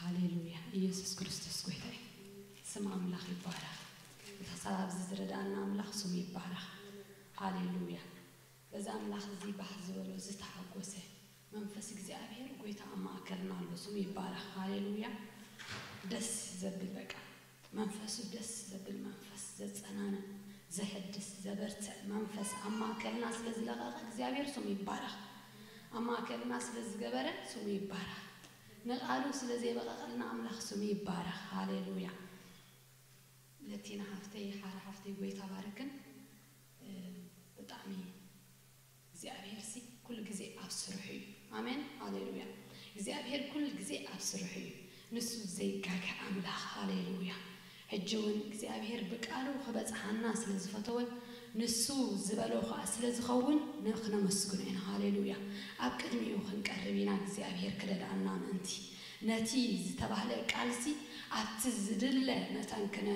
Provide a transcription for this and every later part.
ሃሌሉያ ኢየሱስ ክርስቶስ ጎይታ እዩ ስም ኣምላኽ ይባረኽ እቲ ክሳብ ኣብዚ ዝረድኣና ኣምላኽ ስሙ ይባረኽ ሃሌሉያ በዚ ኣምላኽ እዚ ባህ ዝበሎ ዝተሓጎሰ መንፈስ እግዚኣብሔር ጎይታ ኣብ ማእከልና ኣሎ ስሙ ይባረኽ ሃሌሉያ ደስ ዘብል በቃ መንፈሱ ደስ ዘብል መንፈስ ዘጸናንን ዘሕድስ ዘበርትዕ መንፈስ ኣብ ማእከልና ስለ ዝለቐቐ እግዚኣብሔር ስሙ ይባረኽ ኣብ ማእከልና ስለ ዝገበረ ስሙ ይባረኽ ንቃሉ ስለ ዘየበቀቀልና ኣምላክ ስሙ ይባረክ ሃሌሉያ ለቲና ሓፍተይ ሓራ ሓፍተይ ጎይታ ባርክን ብጣዕሚ እግዚኣብሔር ሲ ኩሉ ግዜ ኣብ ስርሑ እዩ ኣሜን ሃሌሉያ እግዚኣብሔር ኩሉ ግዜ ኣብ ስርሑ እዩ ንሱ ዘይጋገ ኣምላክ ሃሌሉያ ሕጂ ውን እግዚኣብሄር ብቃሉ ክበጽሓና ስለ ዝፈተወ ንሱ ዝበሎ ከኣ ስለ ዝኸውን ንክነመስግኖ ኢና ሃሌሉያ ኣብ ቅድሚኡ ክንቀርብ ኢና እግዚኣብሄር ክረድኣና ምእንቲ ነቲ ዝተባህለ ቃልሲ ኣብቲ ዝድለ መጠን ክነ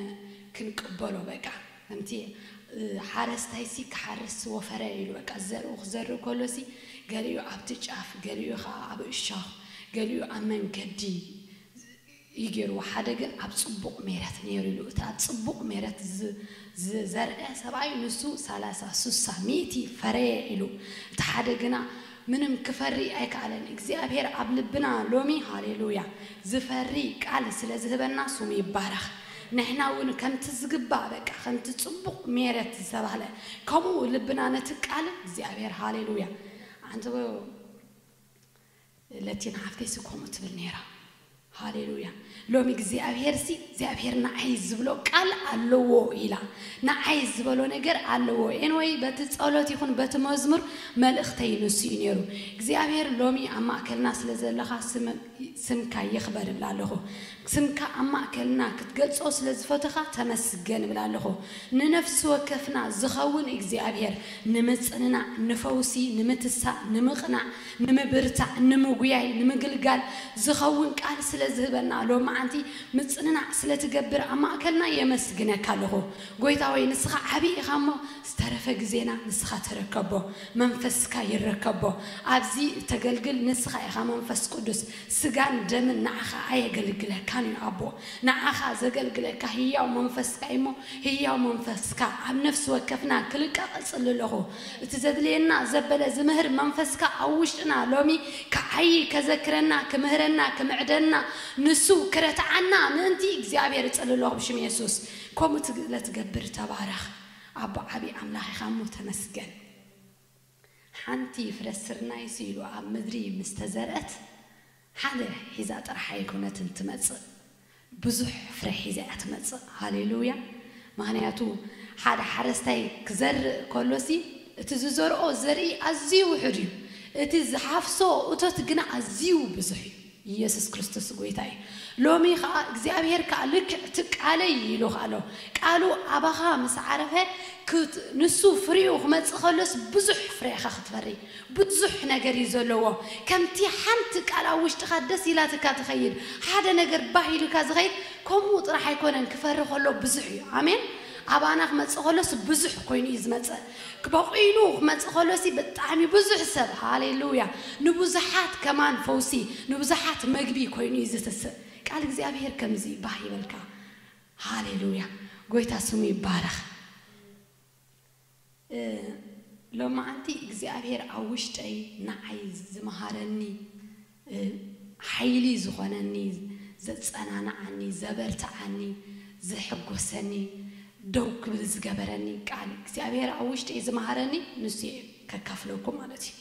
ክንቅበሎ በቃ ከምቲ ሓረስታይሲ ክሓርስ ወፈረ ኢሉ በቃ ዘርኡ ክዘርእ ከሎሲ ገሊኡ ኣብቲ ጫፍ ገሊኡ ከኣ ኣብ እሾኽ ገሊኡ ኣብ መንገዲ እዩ ጌርዎ ሓደ ግን ኣብ ጽቡቅ ሜረት ኔሩ ኢሉ እቲ ኣብ ጽቡቅ ሜረት ዝዘርኤ ሰብኣይ ንሱ ሰላሳ ሱሳ ሚእቲ ፈረየ ኢሉ እቲ ሓደ ግና ምንም ክፈሪ ኣይከኣለን እግዚኣብሄር ኣብ ልብና ሎሚ ሃሌሉያ ዝፈሪ ቃል ስለ ዝህበና ስሙ ይባረኽ ንሕና ውን ከምቲ ዝግባእ በቃ ከምቲ ጽቡቅ ሜረት ዝተባህለ ከምኡ ልብና ነቲ ቃል እግዚኣብሄር ሃሌሉያ ኣንትቦ ለቲና ሓፍተይሲ ከምኡ ትብል ነይራ ሃሌሉያ ሎሚ እግዚኣብሄርሲ እግዚኣብሄር ንዓይ ዝብሎ ቃል ኣለዎ ኢላ ንዓይ ዝበሎ ነገር ኣለዎ ኤንወይ በቲ ጸሎት ይኹን በቲ መዝሙር መልእኽተይ ንሱ እዩ ነይሩ እግዚኣብሄር ሎሚ ኣብ ማእከልና ስለ ዘለኻ ስምካ ይኽበር እብላ ኣለኹ ስምካ ኣብ ማእከልና ክትገልጾ ስለ ዝፈቶኻ ተመስገን እብል ኣሎኹ። ንነፍሲ ወከፍና ዝኸውን እግዚኣብሄር ንምጽንናዕ፣ ንፈውሲ፣ ንምትሳእ፣ ንምቕናዕ፣ ንምብርታዕ፣ ንምጉያይ፣ ንምግልጋል ዝኸውን ቃል ስለ ዝህበና ሎምዓንቲ ምጽንናዕ ስለ ትገብር ኣብ ማእከልና የመስግነካ ኣሎኹ። ጎይታ ሆይ ንስኻ ዓቢ ኢኻ እሞ ዝተረፈ ግዜና ንስኻ ተረከቦ። መንፈስካ ይረከቦ። ኣብዚ እተገልግል ንስኻ ኢኻ መንፈስ ቅዱስ። ስጋን ደምን ንዓኻ ኣየገልግለካን እዩ ኣቦ ንዓኻ ዘገልግለካ ህያው መንፈስካ እዩሞ ህያው መንፈስካ ኣብ ነፍሲ ወከፍና ክልቀቅ እጽሊ ኣለኹ እቲ ዘድልየና ዘበለ ዝምህር መንፈስካ ኣብ ውሽጥና ሎሚ ክዓዪ ከዘክረና ክምህረና ክምዕደና ንሱ ክረትዓና ምእንቲ እግዚኣብሔር እጽሊ ኣለኹ ብሽም የሱስ ከምኡ ለትገብር ተባረኽ ኣቦ ዓቢ ኣምላኽ ኢኻ እሞ ተመስገን። ሓንቲ ፍረ ስርናይስ ኢሉ ኣብ ምድሪ ምስ ተዘርአት፣ ሓደ ሒዛ ጥራሕ ኣይኮነትን ትመጽእ፣ ብዙሕ ፍረ ሒዛ እያ ትመጽእ። ሃሌ ሉያ! ምኽንያቱ ሓደ ሓረስታይ ክዘርእ ከሎሲ፣ እቲ ዝዘርኦ ዘርኢ ኣዝዩ ውሑድ እዩ፣ እቲ ዝሓፍሶ እቶት ግና ኣዝዩ ብዙሕ እዩ። ኢየሱስ ክርስቶስ ጎይታ እዩ ሎሚ ከኣ እግዚኣብሔር ከኣ ልክዕ እቲ ቃለይ ኢሉ ኣሎ ቃሉ ኣባኻ ምስ ዓረፈ ንሱ ፍሪኡ ክመጽእ ከሎስ ብዙሕ ፍረ ኢኻ ክትፈሪ ብዙሕ ነገር እዩ ዘለዎ ከምቲ ሓንቲ ቃል ኣብ ውሽጥኻ ደስ ኢላትካ ትኸይድ ሓደ ነገር ባህ ኢሉካ ዝኸይድ ከምኡ ጥራሕ ኣይኮነን ክፈሪ ከሎ ብዙሕ እዩ ኣሜን ኣባና ክመጽእ ከሎስ ብዙሕ ኮይኑ እዩ ዝመጽእ ክበቂሉ ክመጽእ ከሎሲ ብጣዕሚ ብዙሕ ሰብ ሃሌሉያ ንብዙሓት ከማን ፈውሲ ንብዙሓት መግቢ ኮይኑ እዩ ዝትስእ ቃል እግዚኣብሄር ከምዚ እዩ ባህ ይበልካ ሃሌሉያ ጎይታ ስሙ ይባረኽ ሎማዓንቲ እግዚኣብሄር ኣብ ውሽጠይ ናዓይ ዝመሃረኒ ሓይሊ ዝኾነኒ፣ ዘጸናንዓኒ፣ ዘበርትዓኒ፣ ዘሕጎሰኒ፣ ደው ክብል ዝገበረኒ ቃል እግዚኣብሄር ኣብ ውሽጢይ ዝመሃረኒ ንሱ እየ ከካፍለኩም ማለት እዩ።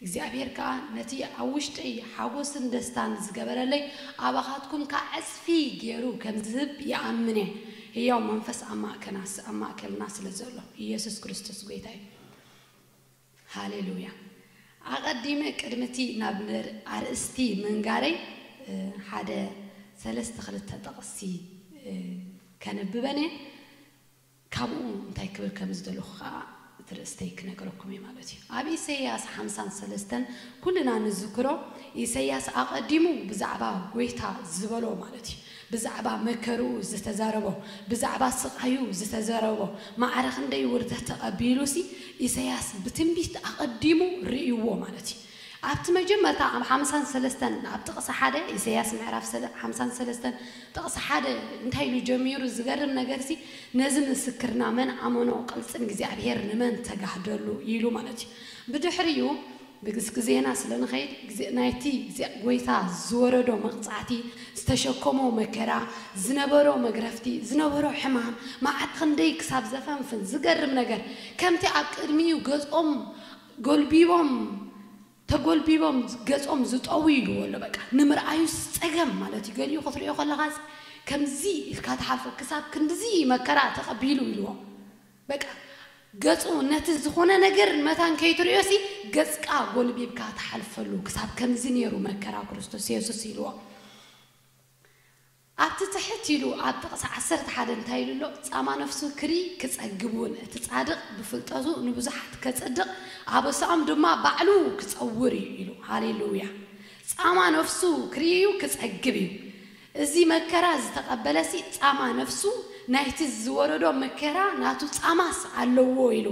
እግዚኣብሄር ከኣ ነቲ ኣብ ውሽጢይ ሓጎስን ደስታን ዝገበረለይ ኣባኻትኩም ከኣ ዕጽፊ ጌሩ ከም ዝህብ ይኣምን እየ። ህያው መንፈስ ኣብ ማእከልና ስለ ዘሎ። ኢየሱስ ክርስቶስ ጎይታ እዩ። ሃሌሉያ ኣቀዲመ ቅድሚ እቲ ናብ ኣርእስቲ ምንጋረይ ሓደ ሰለስተ ክልተ ጥቅሲ ከንብበን እየ ካብኡ እንታይ ክብል ከም ዝደለኩ ከኣ እቲ ርእስተይ ክነገረኩም እየ ማለት እዩ ኣብ ኢሰያስ ሓምሳን ሰለስተን ኩልና ንዝክሮ ኢሰያስ ኣቀዲሙ ብዛዕባ ጎይታ ዝበሎ ማለት እዩ ብዛዕባ መከርኡ ዝተዛረቦ፣ ብዛዕባ ስቓዩ ዝተዘረቦ፣ ማዕረ ክንደይ ውርደት ተቐቢሉሲ፣ ኢሰያስ ብትንቢት ኣቐዲሙ ርእይዎ ማለት እዩ። ኣብቲ መጀመርታ ኣብ ሓምሳን ሰለስተን ኣብ ጥቕሲ ሓደ፣ ኢሰያስ ምዕራፍ ሰለ ሓምሳን ሰለስተን ጥቕሲ ሓደ እንታይ ኢሉ ጀሚሩ ዝገርም ነገርሲ፣ ነዚ ምስክርና መን ኣመኖ ቅልጽም እግዚኣብሄር ንመን ተጋህደሉ ኢሉ ማለት እዩ። ብድሕሪኡ። ንግስ ግዜና ስለ ንኸይድ ግዜ ናይቲ ግዜ ጎይታ ዝወረዶ መቅጻዕቲ ዝተሸከሞ መከራ ዝነበሮ መግረፍቲ ዝነበሮ ሕማም መዓት ኽንደይ ክሳብ ዘፈንፍን ዝገርም ነገር ከምቲ ኣብ ቅድሚኡ ገጾም ጎልቢቦም ተጎልቢቦም ገጾም ዝጠውዩ ኢልዎ ኣሎ በቃ ንምርኣዩስ ጸገም ማለት እዩ ገሊኡ ክትርእዮ ከለኻስ ከምዚ ኢልካ ትሓልፎ ክሳብ ክንድዚ መከራ ተቀቢሉ ኢልዎ በቃ ገጹ ነቲ ዝኾነ ነገር መታን ከይትርእዮሲ ገጽካ ጎልቢብካ ትሓልፈሉ ክሳብ ከምዚ ኔሩ መከራ ክርስቶስ የሱስ ኢልዎ ኣብቲ ትሕት ኢሉ ኣብ ጥቕሲ ዓሰርተ ሓደ እንታይ ኢሉ ኣሎ ጻማ ነፍሱ ክርኢ ክጸግብ ውን እቲ ጻድቕ ብፍልጠቱ ንብዙሓት ከጽድቕ ኣበሳኦም ድማ ባዕሉ ክጸውር እዩ ኢሉ ሃሌሉያ ጻማ ነፍሱ ክርኢ እዩ ክጸግብ እዩ እዚ መከራ ዝተቐበለሲ ጻማ ነፍሱ ናይቲ ዝወረዶ መከራ ናቱ ጻማስ ኣለዎ ኢሉ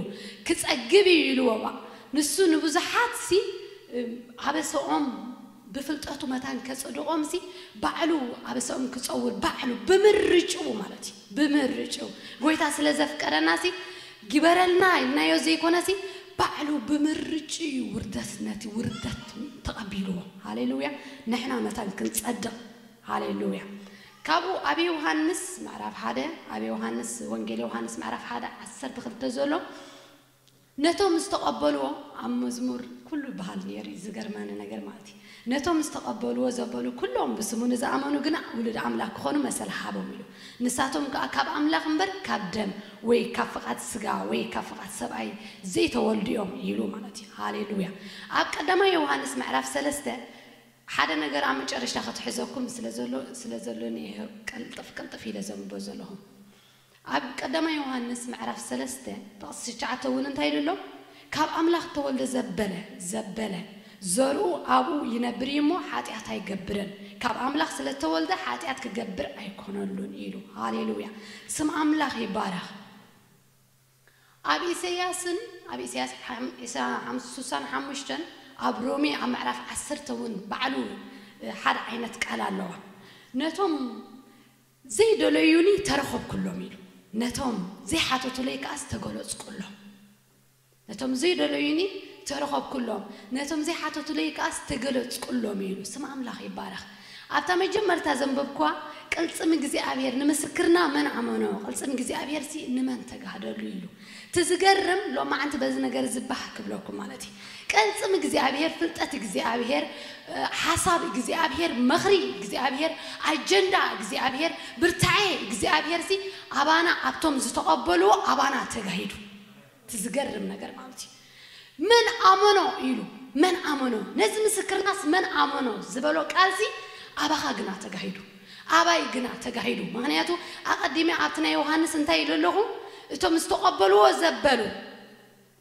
ክጸግብ እዩ ኢልዎ ባእ ንሱ ንብዙሓትሲ ኣበሰኦም ብፍልጠቱ መታን ከጽድቖምሲ ባዕሉ ኣበሰኦም ክጸውር ባዕሉ ብምርጭኡ ማለት እዩ። ብምርጭው ጎይታ ስለ ዘፍቀረናሲ ግበረልና ኢልናዮ ዘይኮነሲ ባዕሉ ብምርጭዩ ውርደት ነቲ ውርደት ተቀቢልዎ ሃሌሉያ ንሕና መታን ክንጸድቅ ሃሌሉያ ካብኡ ኣብ የውሃንስ ምዕራፍ ሓደ ኣብ የውሃንስ ወንጌል የውሃንስ ምዕራፍ ሓደ ዓሰርተ ክልተ ዘሎ ነቶም ዝተቀበልዎ ኣብ መዝሙር ኩሉ ይበሃል ኔሩ እዩ ዝገርመኒ ነገር ማለት እዩ ነቶም ዝተቀበልዎ ዘበሉ ኩሎም ብስሙ ንዝኣመኑ ግና ውሉድ ኣምላክ ክኮኑ መሰል ሃቦም ኢሉ ንሳቶም ከኣ ካብ ኣምላክ እምበር ካብ ደም ወይ ካብ ፍቃድ ስጋ ወይ ካብ ፍቃድ ሰብኣይ ዘይተወልዱ እዮም ኢሉ ማለት እዩ ሃሌሉያ ኣብ ቀዳማይ ዮውሃንስ ምዕራፍ ሰለስተ ሓደ ነገር ኣብ መጨረሽታ ክትሕዘኩም ስለ ዘሎ ስለ ዘሎኒ እየ ቅልጥፍ ቅልጥፍ ኢለ ዘንብቦ ዘለኩ። ኣብ ቀዳማይ ዮሃንስ ምዕራፍ ሰለስተ ጥቕሲ ትሽዓተ እውን እንታይ ኢሉ ኣሎ? ካብ ኣምላኽ እተወልደ ዘበለ፣ ዘበለ፣ ዘርኡ ኣብኡ ይነብር እዩ እሞ፣ ሓጢኣት ኣይገብርን፣ ካብ ኣምላኽ ስለ እተወልደ ሓጢኣት ኪገብር ኣይኰነሉን ኢሉ። ሃሌ ሉያ! ስም ኣምላኽ ይባረኽ። ኣብ ኢሰያስን፣ ኣብ ኢሰያስ ሓም ዒስራ ሓም ሱሳን ሓሙሽተን፣ ኣብ ሮሜ ኣብ ምዕራፍ ዓሰርተ እውን ባዕሉ ሓደ ዓይነት ቃል ኣለዋ። ነቶም። ዘይደለዩኒ ተረኸብኩሎም ኢሉ፣ ነቶም ዘይሓተቱለይ ከኣስ ተገለጽኩሎም። ነቶም ዘይደለዩኒ ተረኸብኩሎም፣ ነቶም ዘይሓተቱለይ ከኣስ ተገለጽኩሎም ኢሉ። ስም ኣምላኽ ይባረኽ። ኣብታ መጀመርታ ዘንበብኩዋ ቅልጽም እግዚኣብሄር ንምስክርና መን ኣመኖ ቅልጽም እግዚኣብሄርሲ ንመን ተጋህደሉ ኢሉ። እቲ ዝገርም ሎማዓንቲ በዚ ነገር እዚ ባህ ክብለኩም ማለት እዩ ቅልፅም እግዚኣብሔር ፍልጠት እግዚኣብሔር ሓሳብ እግዚኣብሔር መኽሪ እግዚኣብሔር ኣጀንዳ እግዚኣብሔር ብርታዔ እግዚኣብሔር ሲ ኣባና ኣብቶም ዝተቐበልዎ ኣባና ተጋሂዱ እቲ ዝገርም ነገር ማለት እዩ መን ኣመኖ ኢሉ መን ኣመኖ ነዚ ምስክርናስ መን ኣመኖ ዝበሎ ቃልሲ ኣባኻ ግና ተጋሂዱ ኣባይ ግና ተጋሂዱ ምኽንያቱ ኣቐዲመ ኣብቲ ናይ ዮሃንስ እንታይ ኢለ ኣለኹ እቶም ዝተቐበልዎ ዘበሉ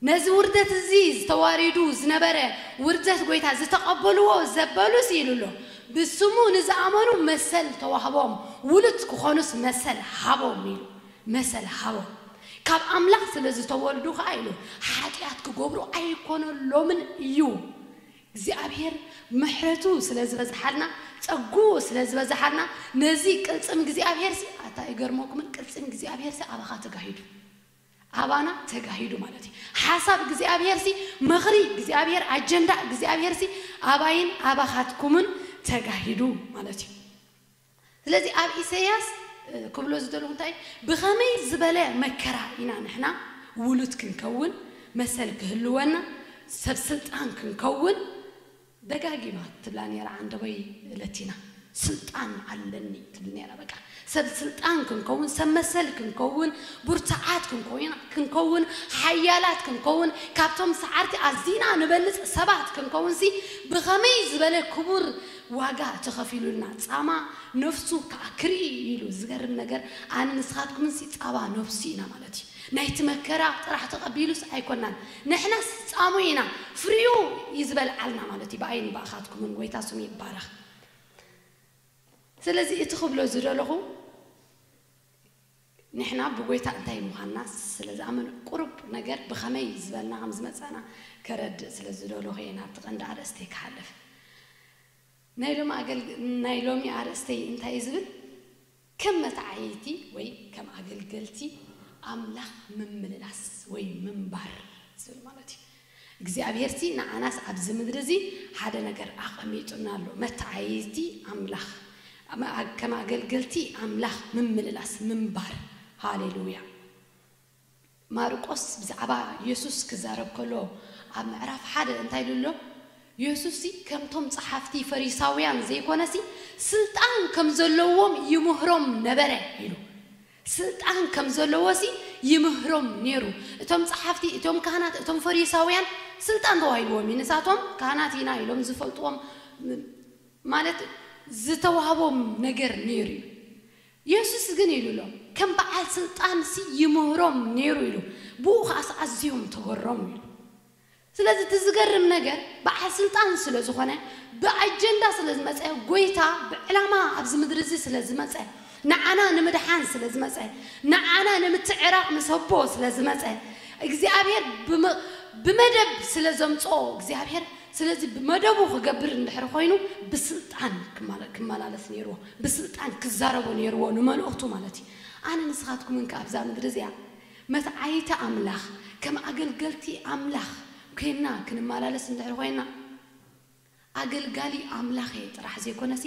ነዚ ውርደት እዚ ዝተዋሪዱ ዝነበረ ውርደት ጎይታ ዝተቐበልዎ ዘበሉስ ኢሉ ኣሎ ብስሙ ንዝኣመኑ መሰል ተዋህቦም ውሉት ክኾኑስ መሰል ሃቦም ኢሉ መሰል ሃቦም። ካብ ኣምላኽ ስለ ዝተወልዱ ኸኣ ኢሉ፣ ሓጢኣት ኪገብሩ ኣይኰነሎምን እዩ። እግዚኣብሄር ምሕረቱ ስለ ዝበዝሓልና፣ ጸግኡ ስለ ዝበዝሓልና፣ ነዚ ቅልጽም እግዚኣብሄርሲ፣ ኣታ ኣይገርመኩምን? ቅልጽም እግዚኣብሄርሲ ኣባኻ ተጋሂዱ። ኣባና ተጋሂዱ ማለት እዩ። ሓሳብ እግዚኣብሄርሲ፣ ምኽሪ እግዚኣብሄር፣ ኣጀንዳ እግዚኣብሄርሲ ኣባይን ኣባኻትኩምን ተጋሂዱ ማለት እዩ። ስለዚ ኣብ ኢሰያስ ክብሎ ዝደለኹ እንታይ እዩ ብኸመይ ዝበለ መከራ ኢና ንሕና ውሉድ ክንከውን መሰል ክህልወና ሰብ ስልጣን ክንከውን ደጋጊማ ትብላ ኔራ ዓንደቦይ ለቲና ስልጣን ኣለኒ ትብል ኔራ በቃ ሰብ ስልጣን ክንከውን ሰብ መሰል ክንከውን ብርቱዓት ክንኮይና ክንከውን ሓያላት ክንከውን ካብቶም ሰዓርቲ ኣዚና ንበልጽ ሰባት ክንከውንሲ ብኸመይ ዝበለ ክቡር ዋጋ ተኸፊሉልና ጻማ ነፍሱ ክኣ ክርኢ እዩ ኢሉ ዝገርም ነገር ኣነ ንስኻትኩምንሲ ጻባ ነፍሱ ኢና ማለት እዩ ናይቲ መከራ ጥራሕ ተቐቢሉስ ኣይኮናን ንሕናስ ጻሙ ኢና ፍሪኡ እዩ ዝበልዓልና ማለት እዩ ብኣይን ብኣኻትኩምን ጎይታ ስሙ ይባረኽ ስለዚ እቲ ክብሎ ዝደለኹ ንሕና ብጐይታ እንታይ ምዃንና ስለ ዝኣመኑ፣ ቁሩብ ነገር ብኸመይ ዝበልና ከም ዝመጻእና ከረድእ ስለ ዝደለኹ እየ ናብቲ ቀንዲ ኣርእስተይ ክሓልፍ። ናይ ሎሚ ኣገልግ ናይ ሎሚ ኣርእስተይ እንታይ እዩ ዝብል፣ ከም መተዓይይቲ ወይ ከም ኣገልገልቲ ኣምላኽ ምምልላስ ወይ ምንባር ዝብል ማለት እዩ። እግዚኣብሄርሲ ንዓናስ ኣብዚ ምድሪ እዚ ሓደ ነገር ኣቐሚጡልና ኣሎ፣ መተዓይይቲ ኣምላኽ፣ ከም ኣገልገልቲ ኣምላኽ ምምልላስ፣ ምንባር። ሃሌሉያ! ማርቆስ ብዛዕባ የሱስ ክዛረብ ከሎ ኣብ ምዕራፍ ሓደ እንታይ ኢሉ ኣሎ? የሱስሲ ከምቶም ጸሓፍቲ ፈሪሳውያን ዘይኰነሲ፣ ስልጣን ከም ዘለዎም ይምህሮም ነበረ ኢሉ። ስልጣን ከም ዘለዎሲ ይምህሮም ኔሩ እቶም ጸሓፍቲ እቶም ካህናት እቶም ፈሪሳውያን ስልጣን ዶ ኣይልዎም እዩ ንሳቶም ካህናት ኢና ኢሎም ዝፈልጥዎም ማለት ዝተዋህቦም ነገር ኔሩ እዩ የሱስ ግን ኢሉ ኣሎ ከም በዓል ስልጣንሲ ይምህሮም ኔሩ ኢሉ ብኡ ከኣስ ኣዝዮም ተገረሙ ኢሉ ስለዚ እቲ ዝገርም ነገር በዓል ስልጣን ስለ ዝኾነ ብኣጀንዳ ስለ ዝመጸ ጎይታ ብዕላማ ኣብዚ ምድሪ እዚ ስለ ዝመጸ ንዓና ንምድሓን ስለ ዝመጸ ንዓና ንምትዕራቕ ምስ ኣቦ ስለ ዝመጸ እግዚኣብሄር ብመደብ ስለ ዘምጽኦ እግዚኣብሄር ስለዚ ብመደቡ ክገብር እንድሕሪ ኮይኑ ብስልጣን ክመላለስ ኔርዎ ብስልጣን ክዛረቦ ኔርዎ ንመልእኽቱ ማለት እዩ ኣነ ንስኻትኩምን ከኣ ኣብዛ ምድሪ እዚኣ መስ ዓይተ ኣምላኽ ከም ኣገልገልቲ ኣምላኽ ኴንና ክንመላለስ እንድሕር ኾይንና፣ ኣገልጋሊ ኣምላኽ እየ ጥራሕ ዘይኮነሲ፣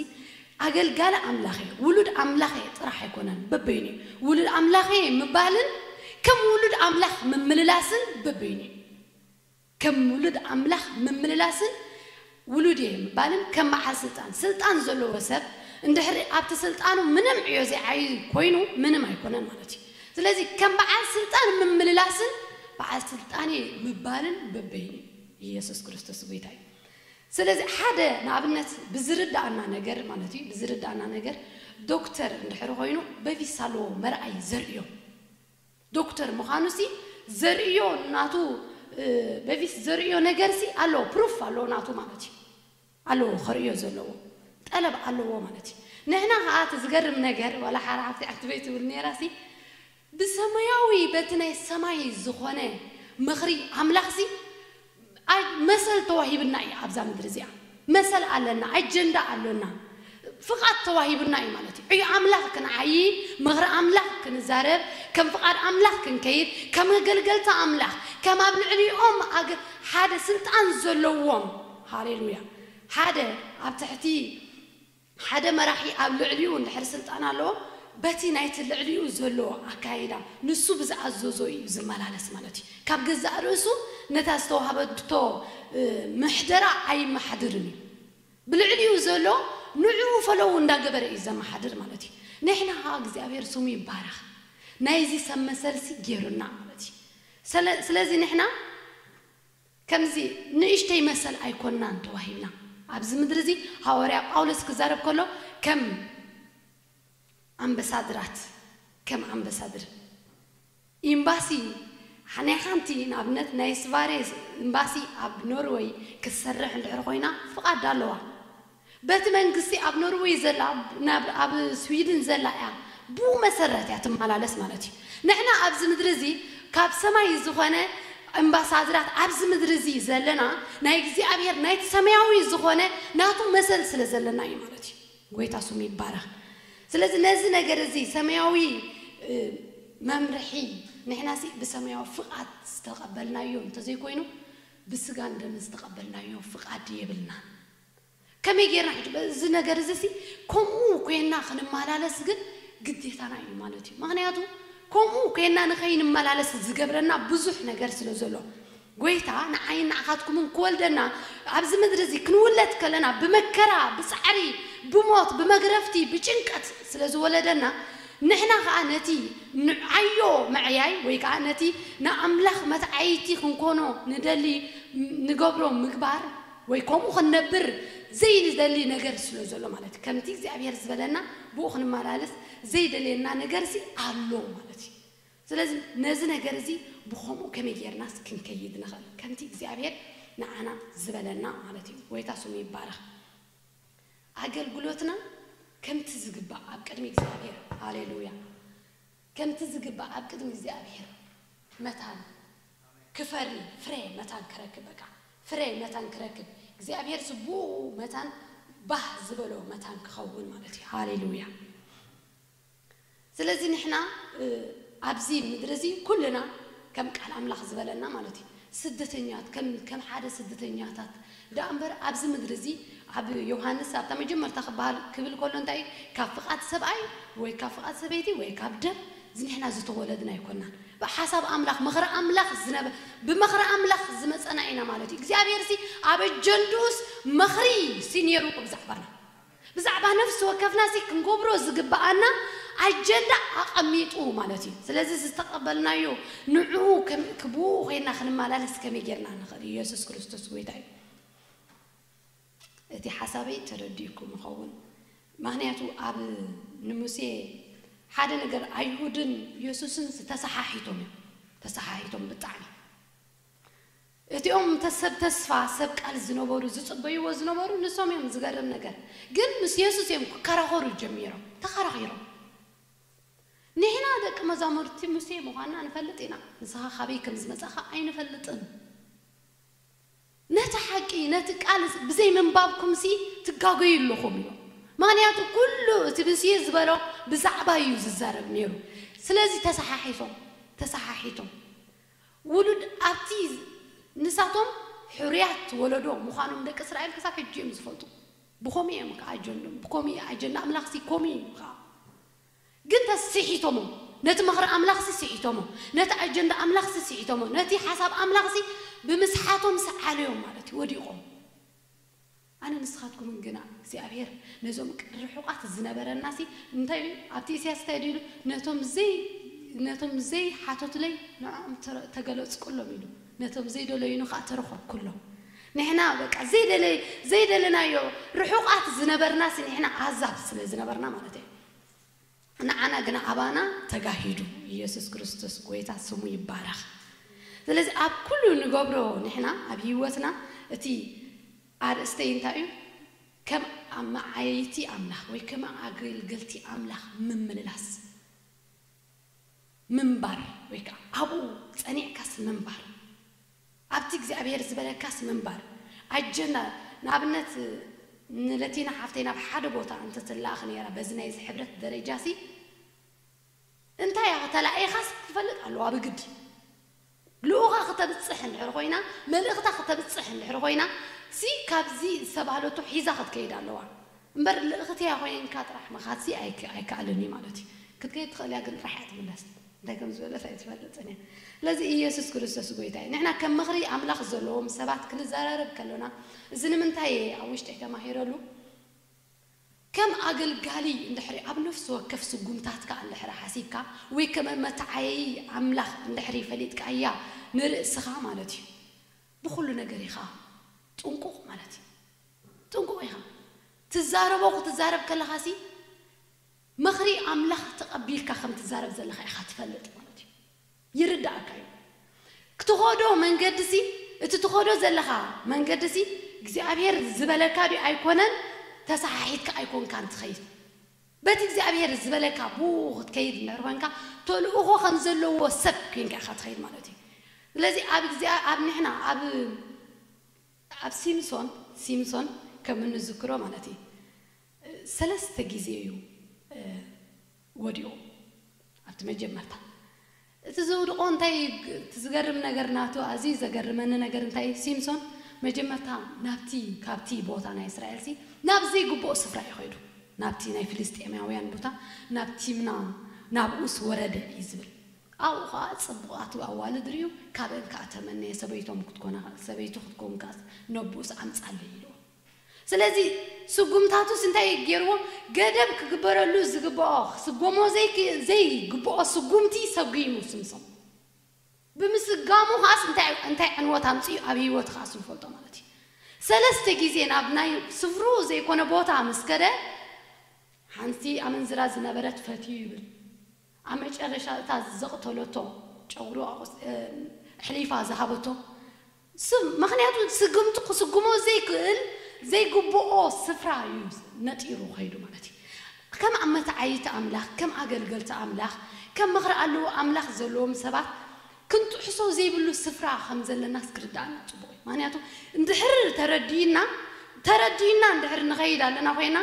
ኣገልጋሊ ኣምላኽ እየ፣ ውሉድ ኣምላኽ እየ ጥራሕ ኣይኮነን፣ በበይኑ እዩ። ውሉድ ኣምላኽ እየ ምባልን ከም ውሉድ ኣምላኽ ምምልላስን በበይኑ እዩ። ከም ውሉድ ኣምላኽ ምምልላስን ውሉድ እየ ምባልን ከም በዓል ስልጣን፣ ስልጣን ዘለዎ ሰብ እንድሕሪ ኣብቲ ስልጣኑ ምንም ዕዮ ዘይዓዪ ኮይኑ ምንም ኣይኮነን ማለት እዩ። ስለዚ ከም በዓል ስልጣን ምምልላስን በዓል ስልጣን እየ ምባልን በበይኑ እዩ። ኢየሱስ ክርስቶስ ጎይታ እዩ። ስለዚ ሓደ ንኣብነት ብዝርድኣና ነገር ማለት እዩ ብዝርድኣና ነገር ዶክተር እንድሕሪ ኮይኑ በቪሳ ኣለዎ መርኣዪ ዘርእዮ፣ ዶክተር ምኻኑሲ ዘርእዮ ናቱ በፊት ዘርእዮ ነገርሲ ኣለዎ ፕሩፍ ኣለዎ ናቱ ማለት እዩ ኣለዎ ከርእዮ ዘለዎ ጠለብ ኣለዎ ማለት እዩ ንሕና ከኣ እቲ ዝገርም ነገር ዋላ ሓራ ሓፍተይ ዓትበይ ትብል ኔራሲ ብሰማያዊ በቲ ናይ ሰማይ ዝኾነ ምኽሪ ኣምላኽሲ ኣይ መሰል ተዋሂብና ኢዩ ኣብዛ ምድሪ እዚኣ መሰል ኣለና ኣጀንዳ ኣሎና ፍቃድ ተዋሂቡና ኢዩ ማለት ኢዩ ዕዮ ኣምላኽ ክንዓዪ ምኽሪ ኣምላኽ ክንዛረብ ከም ፍቃድ ኣምላኽ ክንከይድ ከም ኣገልገልቲ ኣምላኽ ከም ኣብ ልዕሊኦም ኣገ ሓደ ስልጣን ዘለዎም ሃሌሉያ ሓደ ኣብ ትሕቲ ሓደ መራሒ ኣብ ልዕሊኡ እንድሕር ስልጣን ኣለዎ በቲ ናይቲ ልዕሊኡ ዘሎ ኣካይዳ ንሱ ብዝኣዘዞ ኢዩ ዝመላለስ ማለት ኢዩ። ካብ ገዛእ ርእሱ ነታ ዝተዋህበቶ ምሕደራ ኣይመሓድርን ኢዩ። ብልዕሊኡ ዘሎ ንዕኡ ፈለዉ እንዳገበረ ኢዩ ዘመሓድር ማለት ኢዩ። ንሕና ከኣ እግዚኣብሄር ስሙ ይባረኽ ናይዚ ሰብ መሰልሲ ጌሩና ማለት ኢዩ። ሰለ ስለዚ ንሕና። ከምዚ ንእሽተይ መሰል ኣይኮናን ተዋሂብና። ኣብዚ ምድሪ እዚ ሃዋርያ ጳውሎስ ክዛረብ ከሎ ከም ኣምበሳድራት ከም ኣምበሳድር ኢምባሲ ናይ ሓንቲ ንኣብነት ናይ ስቫሬ ኢምባሲ ኣብ ኖርወይ ክትሰርሕ እንድሕር ኮይና ፍቓድ ኣለዋ። በቲ መንግስቲ ኣብ ኖርወይ ዘላ ናብ ኣብ ስዊድን ዘላ እያ ብኡ መሰረት እያ ትማላለስ ማለት እዩ ንሕና ኣብዚ ምድሪ እዚ ካብ ሰማይ ዝኮነ እምባሳድራት ኣብዚ ምድሪ እዚ ዘለና ናይ እግዚኣብሔር ናይቲ ሰማያዊ ዝኮነ ናቱ መሰል ስለ ዘለና እዩ ማለት እዩ ጎይታ ስሙ ይባረክ ስለዚ ነዚ ነገር እዚ ሰማያዊ መምርሒ ንሕናሲ ብሰማያዊ ፍቃድ ዝተቀበልናዮ እንተዘይኮይኑ ብስጋን ደምን ዝተቀበልናዮ ፍቃድ የብልናን። ከመይ ጌርና ሕጂ በዚ ነገር እዚሲ ከምኡ ኴንና ክንመላለስ ግን ግዴታና እዩ ማለት እዩ። ምኽንያቱ ከምኡ ኴንና ንኸይንመላለስ ዝገብረና ብዙሕ ነገር ስለ ዘሎ። ጐይታ ንዓይን ንዓኻትኩምን ክወልደና ኣብዚ ምድሪ እዚ ክንውለድ ከለና ብመከራ፣ ብጻዕሪ፣ ብሞት፣ ብመግረፍቲ፣ ብጭንቀት ስለ ዝወለደና ንሕና ከኣ ነቲ ንዓዮ መዕያይ ወይ ከኣ ነቲ ንኣምላኽ መትዓይቲ ክንኮኖ ንደሊ ንገብሮ ምግባር ወይ ከምኡ ክንነብር ዘይንደሊ ነገር ስለ ዘሎ ማለት እዩ። ከምቲ እግዚኣብሄር ዝበለና ብኡ ክንመላለስ ዘይደልየና ነገርሲ ኣሎ ማለት እዩ። ስለዚ ነዚ ነገር እዚ ብኸምኡ ከመይ ጌርናስ ክንከይድ ንኽእል? ከምቲ እግዚኣብሄር ንዓና ዝበለና ማለት እዩ። ጎይታ ስሙ ይባረኽ። ኣገልግሎትና ከምቲ ዝግባእ ኣብ ቅድሚ እግዚኣብሄር፣ ሃሌሉያ፣ ከምቲ ዝግባእ ኣብ ቅድሚ እግዚኣብሄር መታን ክፈሪ ፍረ መታን ክረክብ በቃ ፍረ መታን ክረክብ እግዚኣብሄር ዝቡኡ መታን ባህ ዝበሎ መታን ክኸውን ማለት እዩ ሃሌሉያ ስለዚ ንሕና ኣብዚ ምድሪ እዚ ኩልና ከም ቃል ኣምላኽ ዝበለና ማለት እዩ ስደተኛት ከም ከም ሓደ ስደተኛታት ደኣምበር ኣብዚ ምድሪ እዚ ኣብ ዮሃንስ ኣብታ መጀመርታ ክበሃል ክብል ከሎ እንታይ እዩ ካብ ፍቃድ ሰብኣይ ወይ ካብ ፍቃድ ሰበይቲ ወይ ካብ ደም ዝኒሕና ዝተወለድና ኣይኮናን ብሓሳብ ኣምላኽ ምኽሪ ኣምላኽ ዝነበ ብመኽሪ ኣምላኽ ዝመጸና ኢና ማለት እዩ እግዚኣብሄርሲ ኣብ ኣጀንድኡስ መኽሪ ሲ ኔርዎ ብዛዕባና ብዛዕባ ነፍሲ ወከፍና እቲ ክንገብሮ ዝግብኣና ኣጀንዳ ኣቐሚጡ ማለት እዩ። ስለዚ እዚ ዝተቐበልናዮ ንዕኡ ብእኡ ኮይንና ክንመላለስ ከመይ ጌርና ንኽእል? እየሱስ ክርስቶስ ጎይታ እዩ። እቲ ሓሳበይ ተረዲኡኩም ይኸውን ምኽንያቱ ኣብ ንሙሴ ሓደ ነገር ኣይሁድን እየሱስን ዝተሰሓሒቶም እዮም ተሰሓሒቶም ብጣዕሚ። እቲኦም እንተ ሰብ ተስፋ ሰብ ቃል ዝነበሩ ዝጽበይዎ ዝነበሩ ንሶም እዮም ዝገርም ነገር ግን ምስ የሱስ እዮም ክከራኸሩ ጀሚሮም ተኸራኺሮም ንሕና ደቂ መዛሙርቲ ሙሴ ምዃንና ንፈልጥ ኢና ንስኻ ካበይ ከም ዝመጻኻ ኣይንፈልጥን ነቲ ሓቂ ነቲ ቃል ብዘይ ምንባብኩምሲ ትጋገዩ ኣለኹም ኢሎም ምኽንያቱ ኩሉ እቲ ሙሴ ዝበሎ ብዛዕባይ እዩ ዝዛረብ ኔሩ ስለዚ ተሰሓሒፎም ተሰሓሒቶም ውሉድ ኣብቲ ንሳቶም ሕሩያት ወለዶ ምዃኖም ደቂ እስራኤል ክሳብ ሕጂ እዮም ዝፈልጡ። ብኸምኡ እዮም ከኣ ኣጀንድኦም ብከምኡ እዩ ኣጀንዳ ኣምላኽሲ ከምኡ እዩ ከኣ። ግን ተስ ስሒቶሞ ነቲ ምኽሪ ኣምላኽሲ ስሒቶሞ ነቲ ኣጀንዳ ኣምላኽሲ ስሒቶሞ ነቲ ሓሳብ ኣምላኽሲ ብምስሓቶም ሰዓለዮም ማለት እዩ ወዲቖም። ኣነ ንስኻትኩምን ግና እግዚኣብሄር ነዞም ርሑቓት ዝነበረናሲ እንታይ ኢሉ እዩ ኣብቲ ኢሳያስ እንታይ ድዩ ኢሉ ነቶም ዘይ ነቶም ዘይ ሓተቱለይ ንዖኦም ተገለጽኩሎም ኢሉ ነቶም ዘይ ደለዩኒ ከኣ ተረኸብኩሎም ንሕና በቃ ዘይ ደለ ዘይ ደለናዮ ርሑቓት ዝነበርናሲ ንሕና ኣህዛብ ስለ ዝነበርና ማለት እየ ንዓና ግና ኣባና ተጋሂዱ ኢየሱስ ክርስቶስ ጎይታ ስሙ ይባረኽ ስለዚ ኣብ ኩሉ ንገብሮ ንሕና ኣብ ህይወትና እቲ ኣርእስተይ እንታይ እዩ ከም ኣማዓየይቲ ኣምላኽ ወይ ከም ኣገልገልቲ ኣምላኽ ምምልላስ ምንባር ወይ ከኣ ኣብኡ ጸኒዕካስ ምንባር። ኣብቲ እግዚኣብሄር ዝበለካስ ምንባር። ኣጀንዳ ንኣብነት ንለቲና ሓፍተይ ናብ ሓደ ቦታ እንተ ትለኣኽ ነይራ በዚ ናይ እዚ ሕብረት ደረጃሲ እንታይ ኣኸ ተላኢኻስ ክፈልጥ ኣለዋ ብግዲ ልኡኻ ክተብጽሕ እንድሕር ኮይና መልእኽታ ክተብጽሕ እንድሕር ኮይና ሲ ካብዚ ዝተባህለቶ ሒዛ ክትከይድ ኣለዋ እምበር ልእኽተያ ኮይንካ ጥራሕ ምኻድሲ ኣይከኣልን እዩ ማለት እዩ ክትከይድ ትኽእል እያ ግን ጥራሕ እያ ትምለስ እንታይ ከም ዝበለት ኣይትፈልጥን እያ። ስለዚ ኢየሱስ ክርስቶስ ጎይታ እዩ። ንሕና ከም ምኽሪ ኣምላኽ ዘለዎም ሰባት ክንዘራረብ ከሎና እዚ ንምንታይ እየ ኣብ ውሽጠይ ተማሂረሉ ከም ኣገልጋሊ እንድሕሪ ኣብ ነፍሲ ወከፍ ስጉምታትካ እንድሕሪ ሓሲብካ ወይ ከም መተዓየዪ ኣምላኽ እንድሕሪ ፈሊጥካያ ንርእስኻ ማለት እዩ ብኹሉ ነገር ኢኻ ጥንቁቕ ማለት እዩ ጥንቁቕ ኢኻ ትዛረቦ ክትዛረብ ከለኻሲ ምኽሪ ኣምላኽ ተቐቢልካ ከም ትዛረብ ዘለኻ ኢኻ ትፈልጥ ማለት እዩ። ይርድኣካ እዩ። ክትኸዶ መንገዲሲ እቲ ትኸዶ ዘለኻ መንገዲሲ እግዚኣብሄር ዝበለካ ድዩ ኣይኮነን ተሰሓሒትካ ኣይኮንካን ትኸይድ። በቲ እግዚኣብሄር ዝበለካ ብኡ ክትከይድ እንድሕር ኮንካ ተልእኾ ከም ዘለዎ ሰብ ኮንካ ኢኻ ትኸይድ ማለት እዩ። ስለዚ ኣብ እግዚኣብ ኣብ ንሕና ኣብ ኣብ ሲምሶን፣ Simpson፣ ከም እንዝክሮ ማለት እዩ ሰለስተ ግዜ እዩ ወዲቑ ኣብቲ መጀመርታ እቲ ዘውድቖ እንታይ እዩ እቲ ዝገርም ነገር ናቱ ኣዝዩ ዘገርመኒ ነገር እንታይ እዩ ሲምሶን መጀመርታ ናብቲ ካብቲ ቦታ ናይ እስራኤልሲ ናብ ዘይግብኦ ስፍራ እዩ ከይዱ ናብቲ ናይ ፍልስጤማውያን ቦታ ናብ ቲምና ናብኡስ ወረደ እዩ ዝብል ኣብኡ ከኣ ጽቡቓት ኣዋልድ ርእዩ፣ ካብኤን ከኣ ተመነየ፣ ሰበይቶም ክትኮና ሰበይቱ ክትከውን ከኣ ነቦኡስ ኣምጻለይ ኢልዎ። ስለዚ ስጉምታቱስ እንታይ እዩ ጌርዎ፣ ገደብ ክግበረሉ ዝግብኦ ክስጎሞ ዘይግብኦ ስጉምቲ ሰጒሙ ስምሰሞ። ብምስጋሙ ከኣስ እንታይ እንታይ ዕንወት ኣምጺኡ ኣብ ህይወቱ ከኣስ ንፈልጦ ማለት እዩ። ሰለስተ ግዜ ናብ ናይ ስፍርኡ ዘይኮነ ቦታ ምስ ከደ ሓንቲ ኣመንዝራ ዝነበረት ፈትዩ ይብል። ኣብ መጨረሻ እታ ዘቕተለቶ ጨጉሩ ኣሕሊፋ ዝሃበቶ ስም ምኽንያቱ ስግምቱ ክስጉሞ ዘይክእል ዘይግብኦ ስፍራ እዩ ነጢሩ ከይዱ ማለት እዩ። ከም መትዓይይቲ ኣምላኽ ከም ኣገልገልቲ ኣምላኽ ከም ምኽሪ ኣለዎ ኣምላኽ ዘለዎም ሰባት ክንጥሕሶ ዘይብሉ ስፍራ ከም ዘለናስ ክርድኣና ጽቡቕ እዩ። ምኽንያቱ እንድሕር ተረዲእና ተረዲእና እንድሕር ንኸይድ ኣለና ኮይና፣